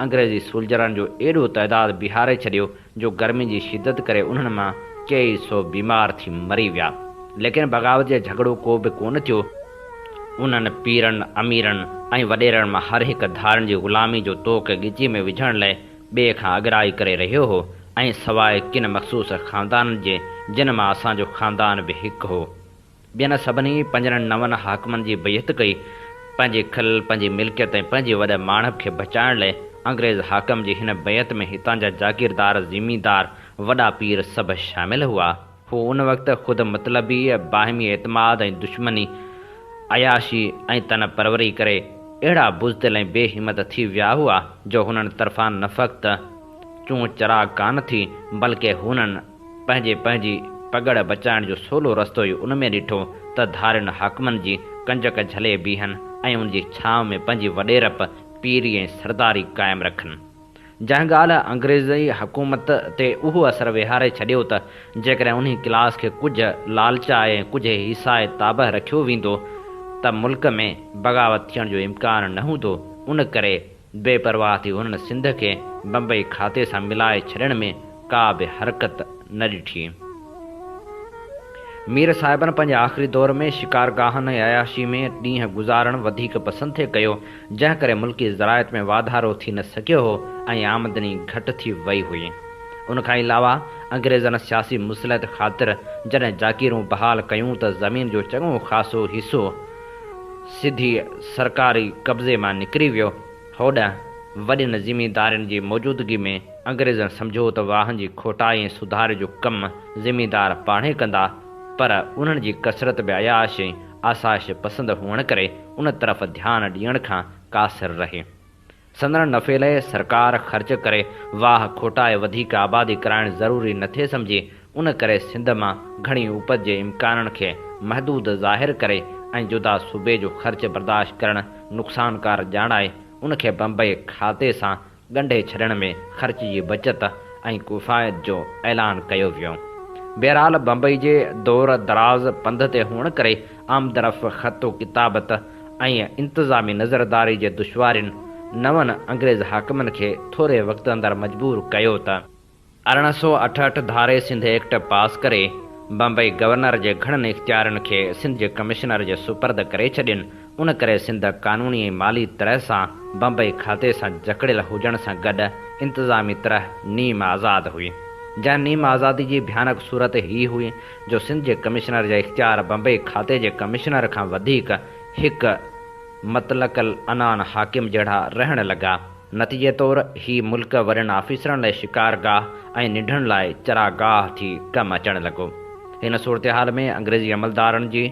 انگريزي سولجرن جو ايڏو تعداد بيهاري ڇڏيو جو گرمي جي شدت ڪري انهن مان ڪيئي سو بيمار ٿي مري ويا ليڪن بغاوت يا جهڳڙو ڪو به ڪونه ٿيو. انهن پيرن، اميرن ۽ وڏيرن مان هر هڪ ڌارين جي غلامي جو طوق ڳچيء ۾ وجهڻ لاء ٻئي کان اڳرائي ڪري رهيو هو ۽ سواء ڪن مخصوص خاندانن جي جن مان اسان جو خاندان به هڪ هو. ٻين سڀني پنجرن نون حاڪمن جي بيعت ڪئي. پنهنجي کل، پنهنجي ملڪيت ۽ پنهنجي وڏ ماڻهپ کي بچائڻ لئه انگريز حاڪم جي هن بيعت ۾ هتان جا جاگيردار، زميندار، وڏا پير سڀ شامل هئا. هو ان وقت خود مطلبي، باهمي اعتماد ۽ دشمني، عياشي ۽ تن پروري ڪري اهڙا بزدل ۽ بي همت ٿي ويا هئا جو هنن طرفان نه فقط چونء چراغ ڪانه ٿي بلڪه هنن پنهنجي پنهنجي پگهر بچائڻ جو سولو رستو ئي ان ۾ ڏٺو ته ڌارين حاڪمن جي ڪنجڪ جهلي بيهن ۽ ان جي ڇانو ۾ پنهنجي وڏيرپ، پيري ۽ سرداري قائم رکن. جنهن ڳالهه انگريزي حڪومت تي اهو اثر ويهاري ڇڏيو ته جيڪڏهن انهي ڪلاس کي ڪجهه لالچائي ۽ ڪجهه هيسائي تابع رکيو ويندو ته ملڪ ۾ بغاوت ٿيڻ جو امڪان نه هوندو، ان ڪري، بي پرواهه ٿي هنن سنڌ کي بمبئي کاتي سان ملائي ڇڏڻ ۾ ڪا به حرڪت نه ڏٺي. مير صاحبن پنهنجي آخري دور ۾ شڪارگاهن ۽ عياشي ۾ ڏينهن گذارڻ وڌيڪ پسند ٿي ڪيو، جنهن ڪري ملڪي زراعت ۾ واڌارو ٿي نه سگهيو هو ۽ آمدني گهٽ ٿي وئي هئي. ان کان علاوه انگريزن سياسي مصلحت خاطر جڏهن جاگيرون بحال ڪيون ته زمين جو چڱو خاصو حصو سڌي سرڪاري قبضي مان نڪري ويو. هوڏانهن وڏين زميندارن جي موجودگي ۾ انگريزن سمجهو ته واهن جي کوٽائي ۽ سڌاري جو ڪم زميندار پاڻهي ڪندا، پر انهن جي ڪثرت به عياش ۽ آسائش پسند هئڻ ڪري ان طرف ڌيان ڏيڻ کان قاصر رهي. سندن نفعي لئه سرڪار خرچ ڪري واهه کوٽائي وڌيڪ آبادي ڪرائڻ ضروري نٿي سمجهي، ان ڪري سنڌ مان گهڻي اپت جي امڪانن کي محدود ظاهر ڪري ۽ جدا صوبي جو خرچ برداشت ڪرڻ نقصانڪار ڄاڻائي ان کي بمبئي کاتي سان ڳنڍي ڇڏڻ ۾ خرچ جي بچت ۽ ڪفايت جو اعلان ڪيو ويو. بهرحال بمبئي جي دور دراز پنڌ تي هئڻ ڪري آمدرفت خط و ڪتابت ۽ انتظامي نظرداري جي دشوارين نون انگريز حاڪمن کي ٿوري وقت اندر مجبور ڪيو ته، ارڙهن سؤ اٺهٺ ڌاري سنڌ ايڪٽ پاس ڪري، بمبئي گورنر جي گهڻن اختيارن کي سنڌ جي ڪمشنر جي سپرد ڪري ڇڏين، ان ڪري سنڌ قانوني ۽ مالي طرح سان بمبئي کاتي سان جڪڙيل هجڻ سان گڏ انتظامي طرح نيم آزاد هئي. جنهن نيم آزادي جي ڀيانڪ صورت هي هئي جو سنڌ جي ڪمشنر جا اختيار بمبئي کاتي جي ڪمشنر کان وڌيڪ هڪ مطلق العنان حاڪم جهڙا رهڻ لڳا. نتيجي طور هي ملڪ وڏن آفيسرن لاء شڪارگاهه ۽ ننڍن لاء چراگاهه ٿي ڪم اچڻ لڳو. هن صورتحال ۾ انگريزي عملدارن جي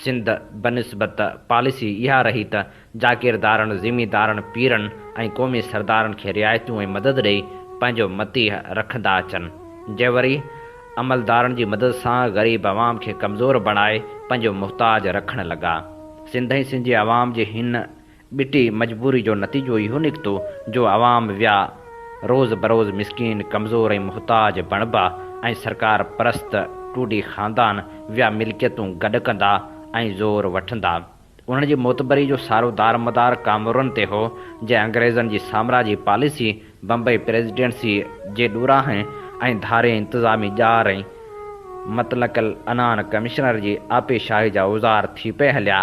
سنڌ بنسبت پاليسي اها رهي ته جاگيردارن، زميندارن، پيرن ۽ قومي سردارن کي رعايتون ۽ مدد ڏئي پنهنجو متيه رکندا اچن. جي وري عملدارن جي مدد سان غريب عوام کي ڪمزور بڻائي پنهنجو محتاج رکڻ لڳا. سنڌ ۽ سنڌ جي عوام جي هن ٻٽي مجبوري جو نتيجو اهو نڪتو جو عوام ويا روز بروز مسڪين، ڪمزور ۽ محتاج بڻبا ۽ سرڪار پرست ٽوڊي خاندان ويا ملڪيتون گڏ ڪندا ۽ زور وٺندا. انهن جي معتبري جو سارو دارمدار ڪامورن تي هو، جنهن انگريزن جي سامراجي پاليسي، بمبئي پريزيڊنسيء جي ڏورانهين ۽ ڌارين انتظامي ڄار ۽ مطلق العنان ڪمشنر جي آپي شاهي جا اوزار ٿي پئي هليا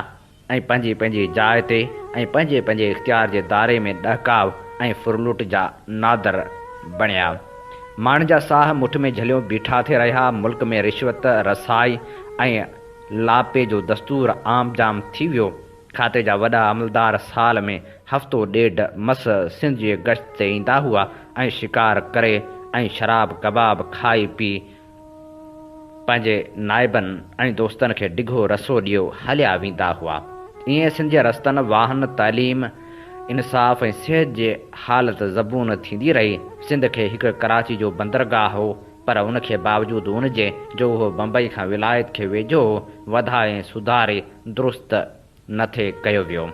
۽ پنهنجي پنهنجي جاء تي ۽ پنهنجي پنهنجي اختيار جي دائري ۾ ڏهڪاء ۽ ڦرلٽ جا نادر بڻيا. ماڻهن جا ساهه مٺ ۾ جهليون بيٺا ٿي رهيا، ملڪ ۾ رشوت، رسائي ۽. لاپي جو دستور عام جام ٿي ويو. کاتي جا وڏا عملدار سال ۾ هفتو ڏيڍ مس سنڌ جي گشت تي ايندا هئا ۽ شڪار ڪري ۽ شراب ڪباب کائي پي پنهنجي نائبن ۽ دوستن کي ڊگهو رسو ڏيو هليا ويندا هئا. ائين سنڌ جي رستن، واهن، تعليم، انصاف ۽ صحت جي حالت زبون ٿيندي رهي. سنڌ کي هڪ ڪراچي جو بندرگاهه هو. پر ان کي باوجود ان جي جو اهو بمبئي کان ولايت کي ويجهو هو، وڌاء ۽ سڌاري درست نه ٿي ڪيو ويو.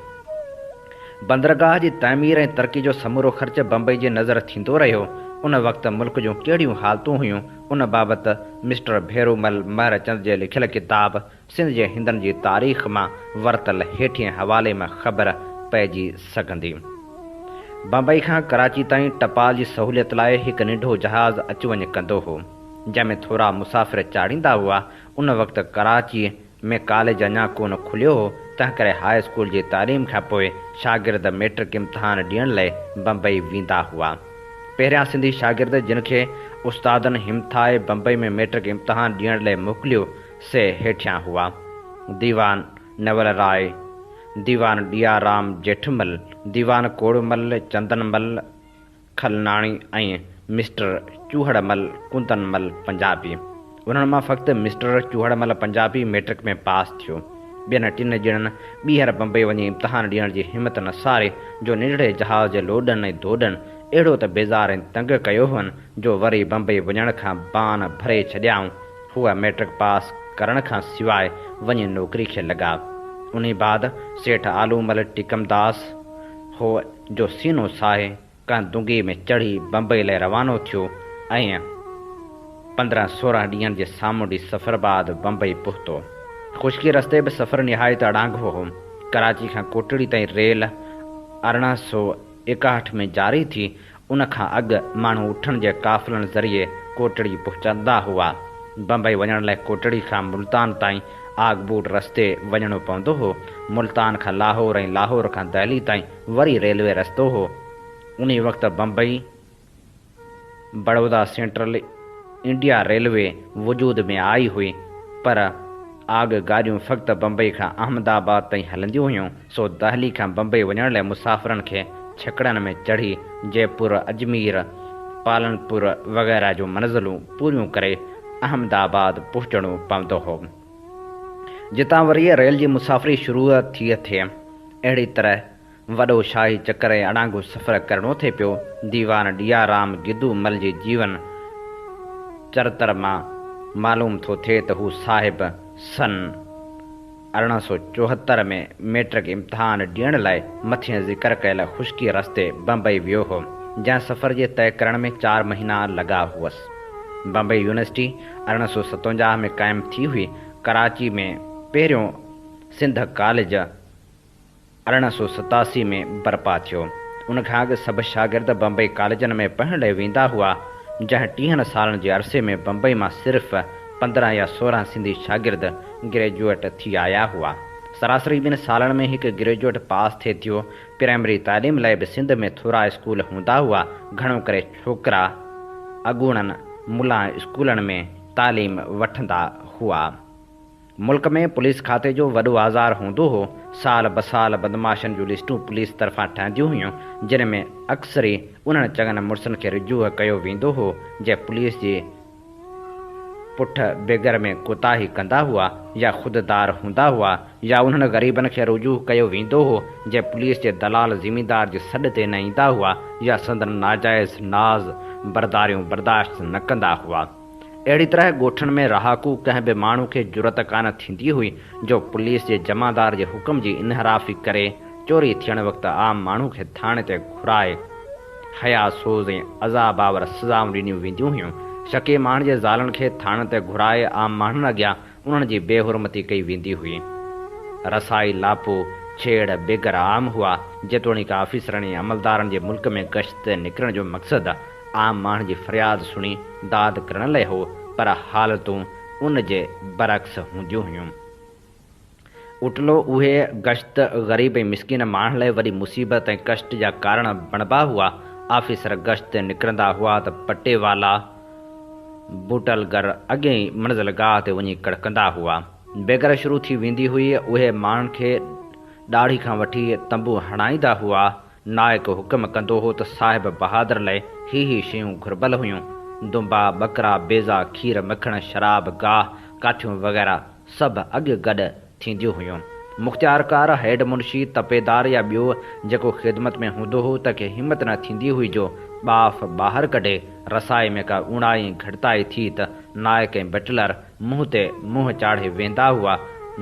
بندرگاهه جي تعمير ۽ ترقي جو سمورو خرچ بمبئي جي نظر ٿيندو رهيو. ان وقت ملڪ جون ڪهڙيون حالتون هيون، ان بابت مسٽر ڀيرومل مهرچند جي لکيل ڪتاب سنڌ جي هندن جي تاريخ مان ورتل هيٺين حوالي مان خبر پئجي سگهندي. بمبئي کان ڪراچي تائين ٽپال جي سهوليت لاء هڪ ننڍو جهاز اچ وڃ ڪندو هو، جنهن ۾ ٿورا مسافر چاڙهيندا هئا، ان وقت ڪراچيء ۾ ڪاليج اڃا ڪونه کليو هو، تنهنڪري هاء اسڪول جي تعليم کان پوء شاگرد مئٽرڪ امتحان ڏيڻ لئه بمبئي ويندا هئا. پهريان سنڌي شاگرد جن کي استادن همٿائي بمبئي ۾ مئٽرڪ امتحان ڏيڻ لئه موڪليو، سي هيٺيان هئا، ديوان نول راء، ديوان ڏيا رام جيٺمل، ديوان ڪوڙمل، چندن مل کلناڻي ۽ مسٽر چوهڙمل ڪندن مل پنجابي. انهن مان فقط mister Chuharmal Punjabi matric ۾ pass ٿيو. ٻين ٽن ڄڻن ٻيهر بمبئي وڃي امتحان ڏيڻ جي همت نه ساري، جو ننڍڙي جهاز جي لوڏن ۽ دوڏن اهڙو ته بيزار ۽ تنگ ڪيو هئن، جو وري بمبئي وڃڻ کان بان ڀري ڇڏيائون. هوء مئٽرڪ پاس ڪرڻ کان سواء وڃي نوڪري کي لڳا. انهي بعد سيٺ آلومل ٽيڪمداس هوء جو سينو ساهي ڪنهن دونگي ۾ چڙهي بمبئي لاء روانو ٿيو ۽ پندرهن سورهن ڏينهن جي سامونڊي سفر بعد بمبئي پهتو. خشڪي رستي به سفر نهايت اڙانگهو هو. ڪراچي کان ڪوٽڙي تائين ريل ارڙهن سؤ ايڪاهٺ ۾ جاري ٿي ان کان اڳ ماڻهو اٺن جي قافلن ذريعي ڪوٽڙي پهچندا هئا. بمبئي وڃڻ لاء ڪوٽڙي کان ملتان تائين آگبوٽ رستي وڃڻو پوندو هو. ملتان کان لاهور ۽ لاهور کان دهلي تائين وري ريلوي رستو هو. انهي وقت Bombay Baroda central India railway وجود ۾ آئي هئي پر آگ گاڏيون فقط بمبئي کان احمد آباد تائين هلنديون هيون. سو دهلي کان بمبئي وڃڻ لاء مسافرن کي ڇڪڙن ۾ چڙهي جي پور، اجمير، پالنپور وغيره جون منزلون پوريون ڪري احمد آباد پهچڻو پوندو هو. جتان وري ريل جي مسافري شروع ٿي ٿئي. اهڙي طرح وڏو شاهي چڪر ۽ اڙانگو سفر ڪرڻو ٿي پيو. ديوان ڏيا رام گدو مل جي جيون چرتر مان معلوم ٿو ٿئي ته هو صاحب سن. ارڙهن سؤ چوهتر ۾ مئٽرڪ امتحان ڏيڻ لاء مٿين ذڪر ڪيل خشڪي رستي بمبئي ويو هو، جنهن سفر جي طئي ڪرڻ ۾ چار مهينا لڳا هئس. بمبئي يونيورسٽي ارڙهن سؤ ستونجاهه ۾ قائم ٿي هئي. ڪراچي ۾ پهريون سنڌ ڪاليج، ارڙهن سؤ ستاسي ۾ برپا ٿيو. ان کان اڳ سڀ شاگرد بمبئي ڪاليجن ۾ پڙهڻ لاء ويندا هئا، جنهن ٽيهن سالن جي عرصي ۾ بمبئي مان صرف پندرهن يا سورهن سنڌي شاگرد گريجوئيٽ ٿي آيا هئا. سراسري ٻن سالن ۾ هڪ گريجوئيٽ پاس ٿئي ٿيو. پرائمري تعليم لاء به سنڌ ۾ ٿورا اسڪول هوندا هئا، گهڻو ڪري ڇوڪرا اڳوڻن ملان اسڪولن ۾ تعليم وٺندا هئا. ملڪ ۾ پوليس کاتي جو وڏو آزار هوندو هو، سال بسال بدمعاشن جون لسٽون پوليس طرفان ٺهنديون هيون، جن ۾ اڪثري انهن چڱن مڙسن کي رجوع ڪيو ويندو هو، جي پوليس جي پٺ بيگر ۾ ڪوتاهي ڪندا هئا يا خود دار هوندا هئا يا انهن غريبن کي رجوع ڪيو ويندو هو، جي پوليس جي دلال زميندار جي سڏ تي نه ايندا هئا يا سندن ناجائز ناز برداريون برداشت نه ڪندا هئا. اهڙي طرح ڳوٺن ۾ رهاڪو ڪنهن به ماڻهو کي جرئت ڪانه ٿيندي هئي جو پوليس جي جمعدار جي حڪم جي انحرافي ڪري، چوري ٿيڻ وقت عام ماڻهو کي ٿاڻي تي گهرائي حياء سوز ۽ عذاب آور سزائون ڏنيون وينديون هيون، شڪي ماڻهن جي زالن کي ٿاڻن تي گهرائي عام ماڻهن اڳيان انهن جي بي حرمتي ڪئي ويندي هئي. رسائي، لاپو، ڇيڙ، بيگر عام هئا، جيتوڻيڪ آفيسرن ۽ عملدارن جي ملڪ ۾ گشت تي نڪرڻ جو مقصد عام ماڻهن جي فرياد سڻي داد ڪرڻ لئه هو، پر حالتون ان جي برعڪس هونديون هيون. اوٽلو اهي گشت غريب ۽ مسڪين ماڻهن لاء وڏي مصيبت ۽ ڪشٽ جا ڪارڻ بڻبا هئا. آفيسر گشت تي نڪرندا هئا ته پٽيوالا بوٽلگر اڳين ئي منزل گاهه تي وڃي ڪڙڪندا هئا. بيگر شروع ٿي ويندي هئي. اهي ماڻهن کي ڏاڙهي کان وٺي تنبو هڻائيندا هئا. نائڪ حڪم ڪندو هو ته صاحب بهادر لئه هي هي شيون گهربل هيون، دنبا، ٻڪرا، بيضا، کير، مکڻ، شراب، گاهه، ڪاٺيون وغيره سڀ اڳ گڏ ٿينديون هيون. مختيارڪار، هيڊ منشي، تپيدار يا ٻيو جيڪو خدمت ۾ هوندو هو تنهن کي همت نه ٿيندي هئي جو ٻاڦ ٻاهر ڪڍي، رسائي ۾ ڪا اوڻائي گهٽتائي ٿي ته نائڪ ۽ بٽلر، منهن تي منهن چاڙهي ويندا هئا،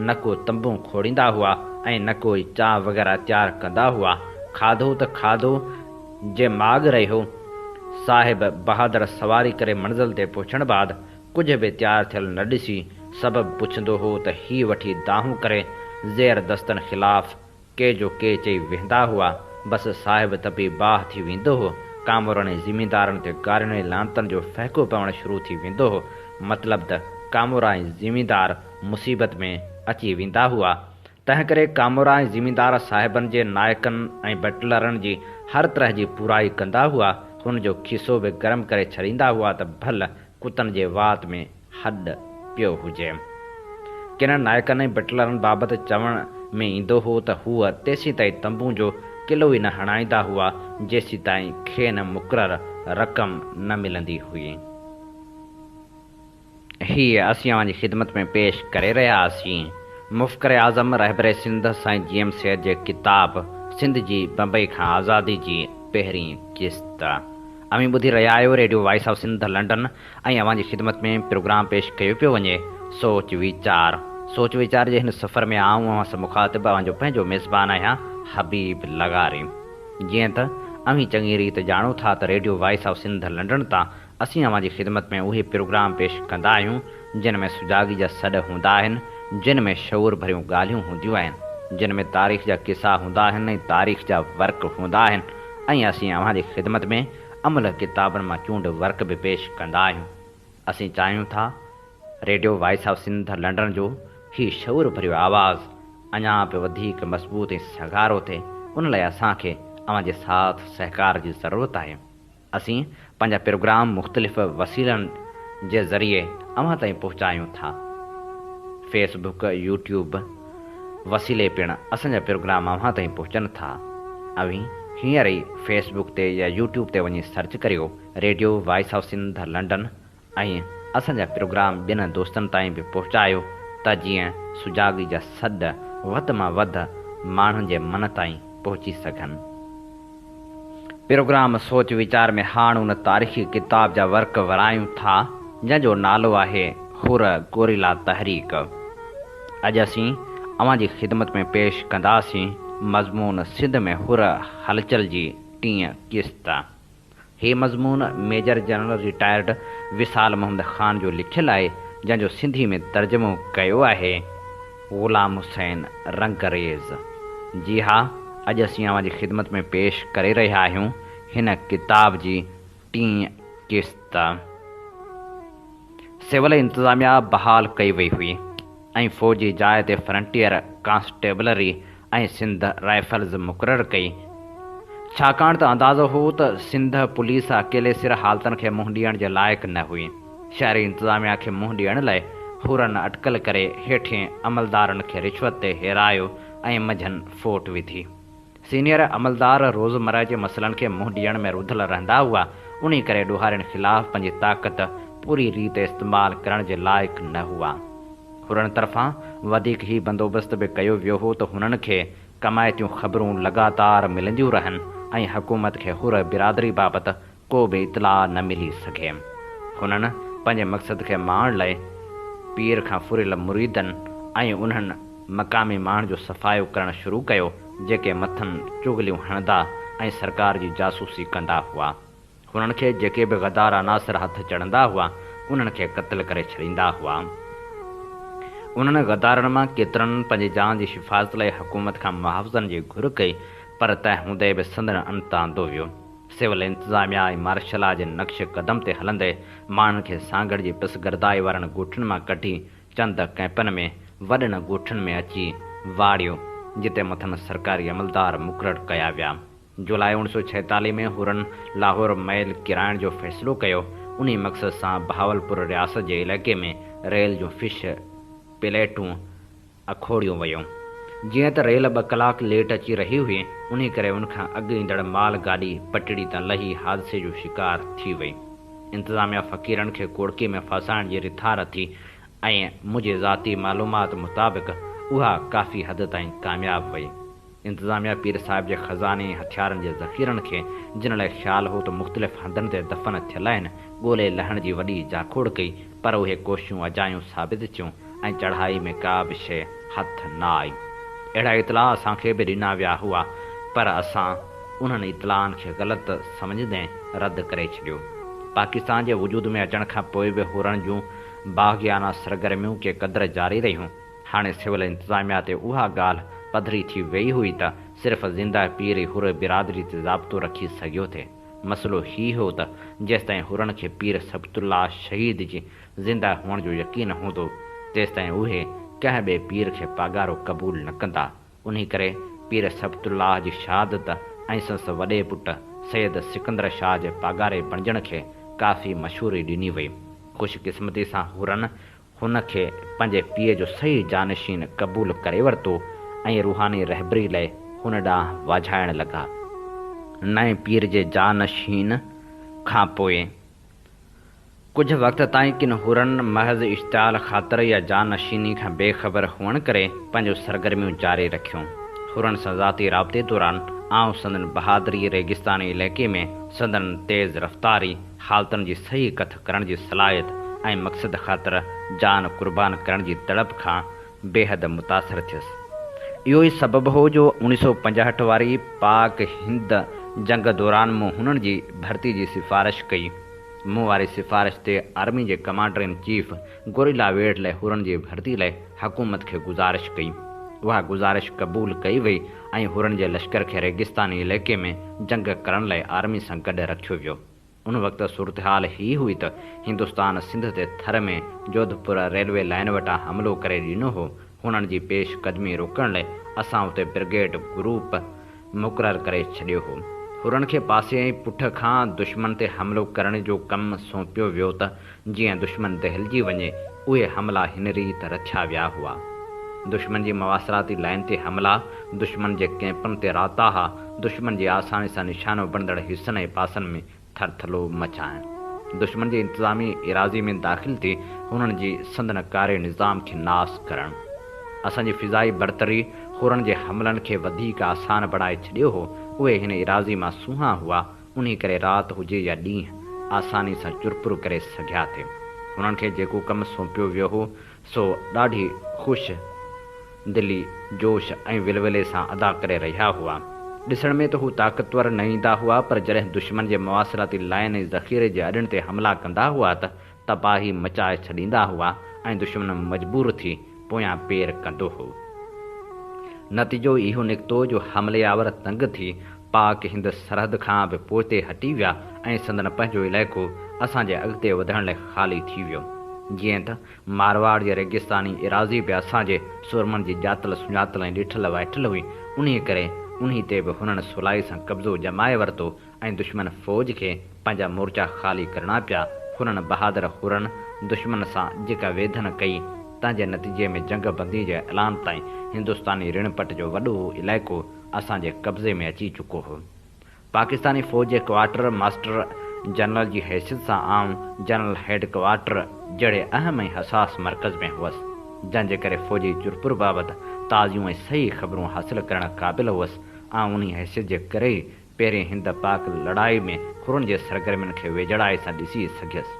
نه ڪو تنبون کوڙيندا هئا ۽ نه ڪو ئي چانهه وغيره تيار ڪندا هئا. کاڌو ته کاڌو جي ماڳ رهيو. صاحب بهادر سواري ڪري منزل تي پهچڻ بعد ڪجهه به تيار ٿيل نه ڏسي سبب پڇندو هو ته هي وٺي دانهون ڪري زير دستن خلاف ڪي جو ڪي چئي ويهندا هئا، بس صاحب ته بي باهه ٿي ويندو هو، ڪامورن ۽ زميندارن تي گارين ۽ لعنتن جو ڦهڪو پوڻ شروع ٿي ويندو هو، مطلب ته ڪامورا ۽ زميندار مصيبت ۾ اچي ويندا هئا، تنهنڪري ڪامورا ۽ زميندار صاحبن جي نائڪن ۽ بٽلرن جي هر طرح جي پورائي ڪندا هئا، هن جو کيسو به گرم ڪري ڇڏيندا هئا ته ڀل ڪتن جي وات ۾ هڏ پيو هجي. ڪنھن نائڪن ۽ بٽلرن بابت چوڻ ۾ ايندو هو ته هو تيسيتائين تنبون جو ڪلو ئي نه هڻائيندا هئا جيسيتائين کين مقرر رقم نه ملندي هئي. هي اسين اوهان جي خدمت ۾ پيش ڪري رهيا آهسين مفڪر اعظم رهبر سنڌ سائين جي ايم سيد جي ڪتاب سنڌ جي بمبئي کان آزادي جي پهرين قسط. اوهين ٻڌي رهيا آهيو radio voice of Sindh London. ۽ اوهان جي خدمت ۾ پروگرام پيش ڪيو پيو وڃي سوچ ويچار سوچ ويچار جي هن سفر ۾ آئون اوهان سان مخاطب اوهان جو پنهنجو ميزبان آهيان حبيب لغاري جيئن ته اوهين چڱي ريت ڄاڻو ٿا ته radio voice of Sindh London تان اسين اوهان جي خدمت ۾ اهي پروگرام پيش ڪندا آهيون جن ۾ سجاڳي جا سڏ هوندا آهن جن ۾ شعور ڀريون ڳالهيون هونديون آهن جن ۾ تاريخ جا قصا هوندا آهن ۽ تاريخ جا ورق هوندا آهن ۽ اسين اوهان جي خدمت ۾ املهه ڪتابن مان چونڊ ورق به پيش ڪندا آهيون. اسين چاهيون ٿا radio voice of Sindh London جو هي شعور ڀريو آواز اڃا به وڌيڪ مضبوط ۽ سگهارو ٿئي ان لاء اسان کي اوهان جي ساٿ سهڪار جي ضرورت آهي. اسين پنهنجا پروگرام مختلف وسيلن جي ذريعي اوهان تائين پهچايون ٿا فيس بڪ، يوٽيوب، وسيلي پڻ اسان جا پروگرام اوهان تائين پهچن ٿا. اوهين هينئر ئي فيس بڪ تي يا يوٽيوب تي وڃي سرچ ڪريو radio voice of Sindh London ۽ اسان جا پروگرام ٻين دوستن تائين به پهچايو ته جيئن سجاڳي جا سڏ وڌ مان وڌ ماڻهن جي من تائين پهچي سگهن. پروگرام سوچ ويچار ۾ هاڻ ان تاريخي ڪتاب جا ورق ورايون ٿا جنهن جو نالو آهي حر گوريلا تحريڪ. اڄ اسين اوهان جي خدمت ۾ پيش ڪنداسين مضمون سنڌ ۾ حر هلچل جي ٽين قسط. هي مضمون major general retired Wisal Muhammad Khan جو لکيل آهي، جنهن جو سنڌي ۾ ترجمو ڪيو آهي غلام حسين رنگريز. جي ها، اڄ اسين اوهان جي خدمت ۾ پيش ڪري رهيا آهيون هن ڪتاب جي ٽين قسط. سول انتظاميا بحال ڪئي وئي هئي. ۽ فوجي جاء تي فرنٽيئر ڪانسٽيبلري ۽ سنڌ رائفلز مقرر ڪئي، ڇاڪاڻ ته اندازو هو ته سنڌ پوليس اڪيلي سر حالتن کي منهن ڏيڻ جي لائق نه هئي، شهري انتظاميا کي منهن ڏيڻ لئي حورن اٽڪل ڪري هيٺين عملدارن کي رشوت تي هيرايو ۽ منجهن فوٽ وڌي. سينيئر عملدار روزمره جي مسئلن کي منهن ڏيڻ ۾ رڌل رهندا هئا، انهي ڪري ڏوهارين خلاف پنهنجي طاقت پوري ريت استعمال ڪرڻ جي لائق نه هئا. هنن طرفان وڌيڪ هي بندوبست به ڪيو ويو هو ته هنن کي ڪمائتيون خبرون لڳاتار ملنديون رهن ۽ حڪومت کي حر برادري بابت ڪو به اطلاع نه ملي سگهي. هنن پنهنجي مقصد کي ماڻڻ لاء پير کان ڦريل مريدن ۽ انهن مقامي ماڻهن جو صفايو ڪرڻ شروع ڪيو جيڪي مٿن چغليون هڻندا ۽ سرڪار جي جاسوسي ڪندا هئا. هنن کي جيڪي به غدار عناصر هٿ چڙهندا هئا انهن کي قتل ڪري ڇڏيندا هئا. انهن غدارن مان ڪيترن پنهنجي جان جي حفاظت لاء حڪومت کان معاوضن جي گهر ڪئي پر تنهن هوندي به سندن انت آندو ويو. سول انتظاميا ۽ مارشل لا جي نقش قدم تي هلندي ماڻهن کي سانگهڙ جي پسگردائي وارن ڳوٺن مان ڪڍي چند ڪئمپن ۾ وڏن ڳوٺن ۾ اچي واڙيو جتي مٿن سرڪاري عملدار مقرر ڪيا ويا جولاء اوڻ سؤ ڇيتالهه ۾ حرن لاهور مئل ڪيرائڻ جو فيصلو ڪيو انهي مقصد سان بهاولپور رياست جي علائقي ۾ ريل جون فش پليٽون اکوڙيو ويو. جيئن ته ريل ٻه ڪلاڪ ليٽ اچي رهي هئي، انهي ڪري ان کان اڳ ايندڙ مال گاڏي پٽڙي تان لهي حادثي جو شڪار ٿي وئي. انتظاميا فقيرن کي ڪوڙڪي ۾ ڦاسائڻ جي رٿا رٿي ۽ منهنجي ذاتي معلومات مطابق اها ڪافي حد تائين ڪامياب وئي. انتظاميا پير صاحب جي خزاني ۽ هٿيارن جي ذخيرن کي، جن لاء خيال هو ته مختلف هنڌن تي دفن ٿيل آهن، ڳولي لهڻ جي وڏي جاکوڙ ڪئي، پر اهي ڪوششون اجايون ثابت ٿيون ۽ چڙهائي ۾ ڪا به شيء هٿ نه آئي. اهڙا اطلاع اسان کي به ڏنا ويا هئا، پر اسان انهن اطلاعن کي غلط سمجهندي رد ڪري ڇڏيو. پاڪستان جي وجود ۾ اچڻ کان پوء به هورنهن جون باغيانه سرگرميون ڪي قدر جاري رهيون. هاڻي سول انتظاميا تي اها ڳالهه پڌري ٿي ويئي هئي ته صرف زنده پير ئي حر برادري تي ضابطو رکي سگهيو ٿي. مسئلو هي هو ته جيستائين حرن کي پير صبت الله شهيد جي زنده هئڻ جو يقين هوندو تيستائين اهي ڪنهن ٻئي پير کي پاڳارو قبول نه ڪندا. انهي ڪري پير صبت الله جي شهادت ۽ سندس وڏي پٽ سيد سڪندر شاهه جي پاڳاري بڻجڻ کي ڪافي مشهوري ڏني وئي. خوش قسمتي سان حرن هن کي پنهنجي پيء جو صحيح جانشين قبول ڪري ورتو ۽ روحاني رهبري لئه هن ڏانهن واجهائڻ لڳا. نئين پير جي جانشين کان پوء ڪجهه وقت تائين ڪن حرن محض اشتعال خاطر يا جانشيني کان بي خبر هئڻ ڪري پنهنجون سرگرميون جاري رکيون. حرن سان ذاتي رابطي دوران آئون سندن بهادري، ريگستاني علائقي ۾ سندن تيز رفتاري، حالتن جي صحيح ڪٿ ڪرڻ جي صلاحيت ۽ مقصد خاطر جان قربان ڪرڻ جي تڙپ کان بيحد متاثر ٿيس. اهو ئي سبب هو جو اوڻيھ سؤ پنجاهٺ واري پاڪ هند جنگ دوران مون هنن جي ڀرتي جي سفارش ڪئي. مون واري سفارش تي آرمي جي ڪمانڊر ان چيف گوريلا ويڙهه لاء حورن جي ڀرتي لاء حڪومت کي گذارش ڪئي. اها گذارش قبول ڪئي وئي ۽ حورن جي لشڪر کي ريگستاني علائقي ۾ جنگ ڪرڻ لاء آرمي سان گڏ رکيو ويو. ان وقت صورتحال هي هئي ته هندستان سنڌ تي ٿر ۾ جوڌپور ريلوي لائين وٽان حملو ڪري ڏنو هو انهن جي پيش قدمي روڪڻ لاء اسان اتي برگيڊ گروپ مقرر ڪري ڇڏيو هو. انهن کي پاسي ۽ پٺ کان دشمن تي حملو ڪرڻ جو ڪم سونپيو ويو ته جيئن دشمن دهلجي وڃي. اهي حملا هن ريت رٿيا ويا هئا. دشمن جي مواصلاتي لائين تي حملا، دشمن جي ڪئمپن تي راتاها، دشمن جي آساني سان نشانو بڻندڙ حصن ۽ پاسن ۾ ٿرٿلو مچائڻ، دشمن جي انتظامي ايراضي ۾ داخل ٿي هورن جي سندن ڪاري نظام کي ناس ڪرڻ. اسان جي فضائي برتري هورن جي حملن کي وڌيڪ آسان بڻائي ڇڏيو هو، اهي هن ايراضي مان سونهان هئا، انهي ڪري رات هجي يا ڏينهن آساني سان چرپر ڪري سگهيا ٿي. هنن کي جيڪو ڪم سونپيو ويو هو، سو ڏاڍي خوش دلي، جوش ۽ ولولي سان ادا ڪري رهيا هئا. ڏسڻ ۾ ته هو طاقتور نه ايندا هئا پر جڏهن دشمن جي مواصلاتي لائين ۽ ذخيري جي اڏن تي حملا ڪندا هئا ته تباهي مچائي ڇڏيندا هئا ۽ دشمن مجبور ٿي پويان پير ڪندو هو. نتيجو اهو نڪتو جو حملي آور تنگ ٿي پاڪ هند سرحد کان به پوئتي هٽي ويا ۽ سندن پنهنجو علائقو اسان جي اڳتي وڌڻ لاء خالي ٿي ويو. جيئن ته مارواڙ جي ريگستاني ايراضي به اسان جي سورمن جي ڄاتل سڃاتل ۽ ڏٺل وائٺل هئي، انهيء ڪري انهي تي به هنن سولائي سان قبضو ڄمائي ورتو ۽ دشمن فوج کي پنهنجا مورچا خالي ڪرڻا پيا. هنن بهادر حرن دشمن سان جيڪا ويڌن ڪئي، تنهن جي نتيجي ۾ جنگ بندي جي اعلان تائين هندستاني رڻ پٽ جو وڏو علائقو اسان جي قبضي ۾ اچي چڪو هو. پاڪستاني فوج جي ڪوارٽر ماسٽر جنرل جي حيثيت سان آئون جنرل هيڊ ڪوارٽر جهڙي اهم ۽ حساس مرڪز ۾ هئس، جنهن جي ڪري فوجي جرپر بابت تازيون ۽ صحيح خبرون حاصل ڪرڻ قابل هئس. آئون انهي حيثيت جي ڪري ئي پهرين هند پاڪ لڙائي ۾ خرن جي سرگرمين کي ويجهڙائي سان ڏسي سگهيس.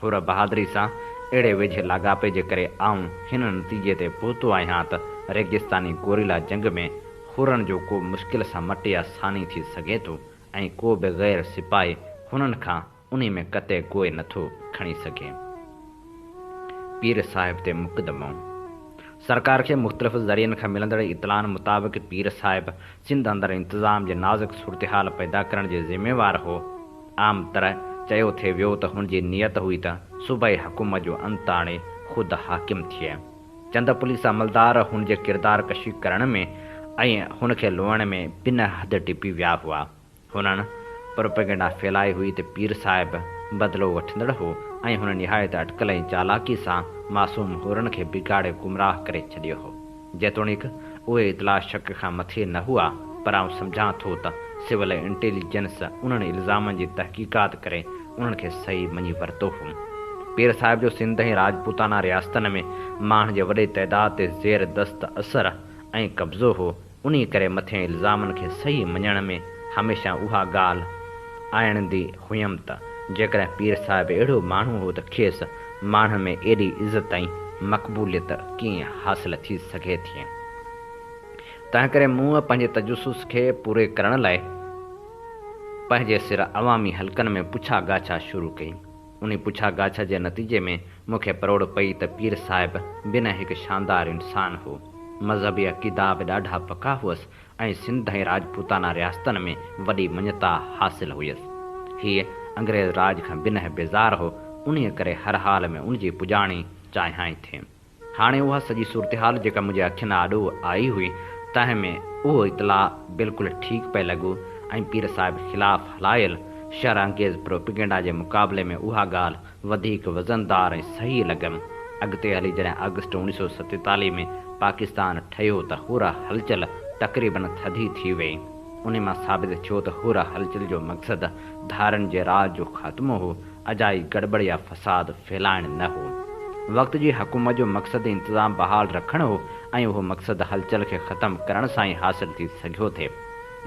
حر بهادري سان اهڙي ويجهي لاڳاپي جي ڪري آئون هن نتيجي تي پهتو آهيان ته ريگستاني گوريلا جنگ ۾ حرن جو ڪو مشڪل سان مٽ يا ثاني ٿي سگهي ٿو ۽ ڪو به غير سپاهي هنن کان انهي ۾ قطع گوء نه ٿو کڻي سگهي. پير صاحب تي مقدمو. سرڪار کي مختلف ذريعن کان ملندڙ اطلاعن مطابق پير صاحب سنڌ اندر انتظام جي نازڪ صورتحال پيدا ڪرڻ جي ذميوار هو، عام طرح چيو ٿي ويو ته هن جي نيت هئي ته صوبائي حڪومت جو انت آڻي خود حاڪم ٿئي. چند پوليس عملدار هن جي ڪردار ڪشي ڪرڻ ۾ ۽ هن کي لوئڻ ۾ بنهه حد ٽپي ويا هئا. هنن پروپيگنڊا ڦيلائي هئي ته پير صاحب بدلو وٺندڙ هو ۽ هن نهايت اٽڪل ۽ چالاڪي سان معصوم حورن کي بگاڙي گمراهه ڪري ڇڏيو هو. جيتوڻيڪ اهي اطلاع شڪ کان مٿي نه هئا پر آئون سمجهان ٿو ته سول انٽيلي جنس انهن الزامن جي تحقيقات ڪري انهن کي صحيح مڃي ورتو هو. پير صاحب جو سنڌ ۽ راجپوتانا رياستن ۾ ماڻهن جي وڏي تعداد تي زير دست اثر ۽ قبضو هو انهي ڪري مٿين الزامن کي صحيح مڃڻ ۾ هميشه اها ڳالهه آئڻندي هيم ته جيڪڏهن پير صاحب اهڙو ماڻهو هو ته کيس ماڻهن ۾ ايڏي عزت ۽ مقبوليت ڪيئن حاصل ٿي سگهي ٿي. تنهنڪري مون پنهنجي تجسس کي پوري ڪرڻ لاء پنهنجي سر عوامي حلقن ۾ پڇا ڳاڇا شروع ڪئي. انهي پڇا ڳاڇا جي نتيجي ۾ مون کي پروڙ پئي ته پير صاحب بنهه هڪ شاندار انسان هو. مذهبي عقيدا به ڏاڍا پڪا هئس ۽ سنڌ ۽ راجپوتانا رياستن ۾ وڏي مڃتا حاصل هيس. هيء انگريز راڄ کان بنهه بيزار هو، انهيء ڪري هر حال ۾ ان جي پڄاڻي چاهيائين ٿي. هاڻي اها سڄي صورتحال جيڪا منهنجي اکين آڏو آئي هئي، تنهن ۾ اهو اطلاع بلڪل ٺيڪ پئي لڳو ۽ پير صاحب خلاف هلايل شر انگيز پروپيگنڊا جي مقابلي ۾ اها ڳالهه وڌيڪ وزندار ۽ صحيح لڳم. اڳتي هلي جڏهن آگسٽ اوڻيهه سؤ ستيتاليهه ۾ پاڪستان ٺهيو ته هورا هلچل تقريباً ٿڌي ٿي ويئي. انهي مان ثابت ٿيو ته هورا هلچل جو مقصد ڌارين جي راڄ جو خاتمو هو، اجائي گڙٻڙ يا فساد ڦهلائڻ نه هو. وقت جي حڪومت جو مقصد انتظام بحال رکڻ هو ۽ اهو مقصد هلچل کي ختم ڪرڻ سان ئي حاصل ٿي سگهيو ٿي.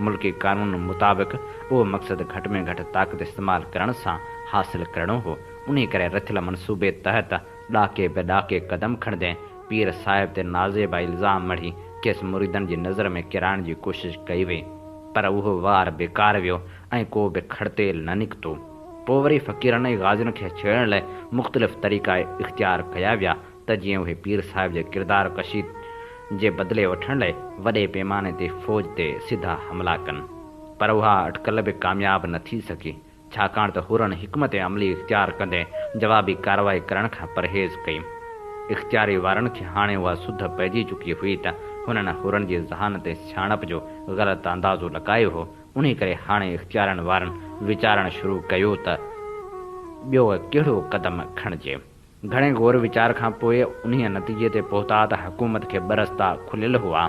ملڪي قانون مطابق اهو مقصد گهٽ ۾ گهٽ طاقت استعمال ڪرڻ سان حاصل ڪرڻو هو، انهي ڪري رٿيل منصوبي تحت ڏاڪي به ڏاڪي قدم کڻندي پير صاحب تي نازيبا الزام مڙهي کيس مريدن جي نظر ۾ ڪيرائڻ جي ڪوشش ڪئي وئي پر اهو وار بيڪار ويو ۽ ڪو به کڙتيل نه نڪتو. پوء وري فقيرن ۽ غازين کي ڇيڙڻ لاء مختلف طريقا اختيار ڪيا ويا. ته جيئن اهي پير صاحب جي ڪردار ڪشي جي بدلي وٺڻ لاء وڏي پيماني تي فوج تي سڌا حملا ڪن. پر اها اٽڪل به ڪامياب نه ٿي سگهي، ڇاڪاڻ ته حرن حڪمت عملي اختيار ڪندي جوابي ڪارروائي ڪرڻ کان پرهيز ڪئي. اختياري وارن کي هاڻي اها سڌ پئجي چڪي هئي ته هنن حرن جي ذهانت ۽ سياڻپ جو غلط اندازو لڳايو هو، انهي ڪري هاڻي اختيارين وارن ويچارڻ شروع ڪيو ته ٻيو ڪهڙو قدم کڻجي. گهڻي غور ويچار کان پوء انهيء نتيجي تي پهتا ته حڪومت کي ٻه رستا کليل هئا،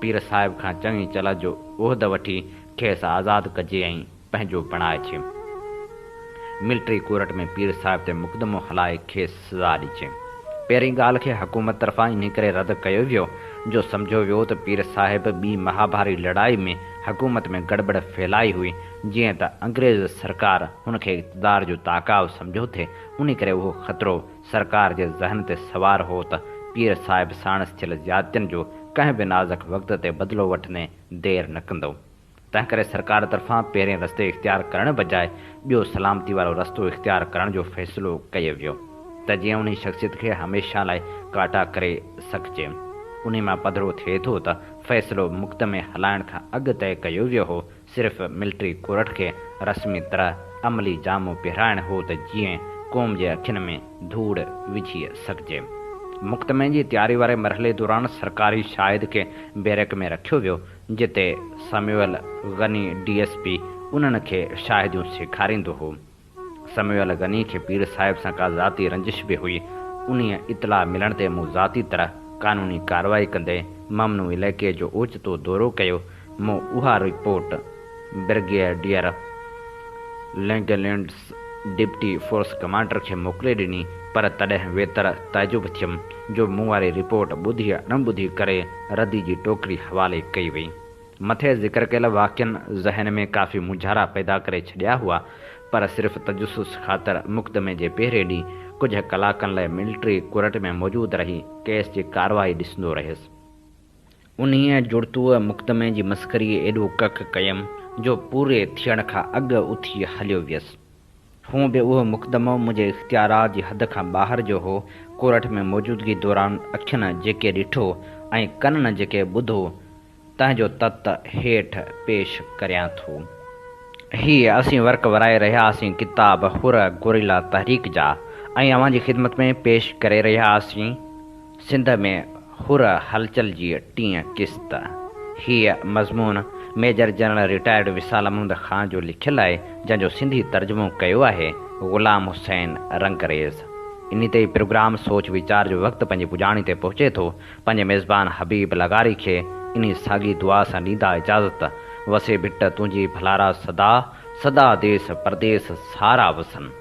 پير صاحب کان چڱي چلهه جو عهده وٺي کيس آزاد ڪجي ۽ پنهنجو بڻائي ڇي. ملٽري ڪورٽ ۾ پير صاحب تي مقدمو هلائي کيس سزا ڏجي. پهرين ڳالهه کي حڪومت طرفان انهي ڪري رد ڪيو ويو جو سمجهيو ويو ته پير صاحب ٻي مهاڀاري لڙائي ۾ حڪومت ۾ گڙٻڙ ڦهلائي هئي، جيئن ته انگريز سرڪار هن کي اقتدار جو تاڪاو سمجهيو ٿي، انهي ڪري اهو خطرو سرڪار جي ذهن تي سوار هو ته پير صاحب ساڻس ٿيل زيادتين جو ڪنهن به نازڪ وقت تي بدلو وٺندي دير نه ڪندو. تنهنڪري سرڪار طرفان پهرين رستي اختيار ڪرڻ بجاء ٻيو سلامتي وارو رستو اختيار ڪرڻ جو فيصلو ڪيو ويو ته جيئن انهي شخصيت کي هميشه لاء ڪاٽا ڪري سگهجي. انهي مان پڌرو ٿئي ٿو ته فيصلو مقدمي هلائڻ کان اڳ طئي ڪيو ويو هو صرف ملٽري ڪورٽ کي رسمي طرح عملي جامو پهرائڻ هو ته جيئن قوم جي اکين ۾ ڌوڙ وجهي سگهجي. مقدمي جي تياري واري مرحلي دوران سرڪاري شاهد کي بيرڪ ۾ رکيو ويو جتي Samuel Ghani D S P انهن کي شاهديون سيکاريندو هو. سميوئل غني کي پير صاحب سان ڪا ذاتي رنجش به هئي. انهيء اطلاع ملڻ تي مون ذاتي طرح قانوني ڪارروائي ڪندي ممنوع علائقي جو اوچتو دورو ڪيو. مون اها report brigadier Langlands deputy force commander کي موڪلي ڏني، پر تڏهن ويتر تعجب ٿيم جو مون واري رپورٽ ٻڌي اڻٻڌي ڪري ردي جي ٽوڪري حوالي ڪئي وئي. مٿي ذڪر ڪيل واقعن ذهن ۾ ڪافي مونجهارا پيدا ڪري ڇڏيا هئا، پر صرف تجسس خاطر مقدمي جي پهرين ڏينهن ڪجهه ڪلاڪن لاء ملٽري ڪورٽ ۾ موجود رهي ڪيس جي ڪارروائي ڏسندو رهيس. انهيء جڙتوء مقدمي جي مسخري ايڏو ڪک ڪيم جو پوري ٿيڻ کان اڳ اٿي هليو ويس. هونء به اهو مقدمو منهنجي اختيارات جي حد کان ٻاهر جو هو، ڪورٽ ۾ موجودگي دوران اکين جيڪي ڏٺو ۽ ڪنن جيڪي ٻڌو، تنهن جو تت هيٺ پيش ڪريان ٿو. هيء اسين ورق ورائي رهيا هئاسين، ڪتاب حر گوريلا تحريڪ جا، ۽ اوهان جي خدمت ۾ پيش ڪري رهيا هئاسين. سنڌ ۾ حر هلچل جي ٽين قسط. هيء مضمون major general retired Wisal Muhammad Khan جو لکيل آهي، جنهن جو سنڌي ترجمو ڪيو آهي غلام حسين رنگريز. انهي تي ئي پروگرام سوچ ويچار جو وقت پنهنجي پڄاڻي تي پهچي ٿو. پنهنجي ميزبان حبيب لغاري کي انهي ساڳي دعا سان ڏيندا اجازت، وسي ڀٽ تنهنجي ڀلارا سدا، سدا ديس پرديس سارا وسن.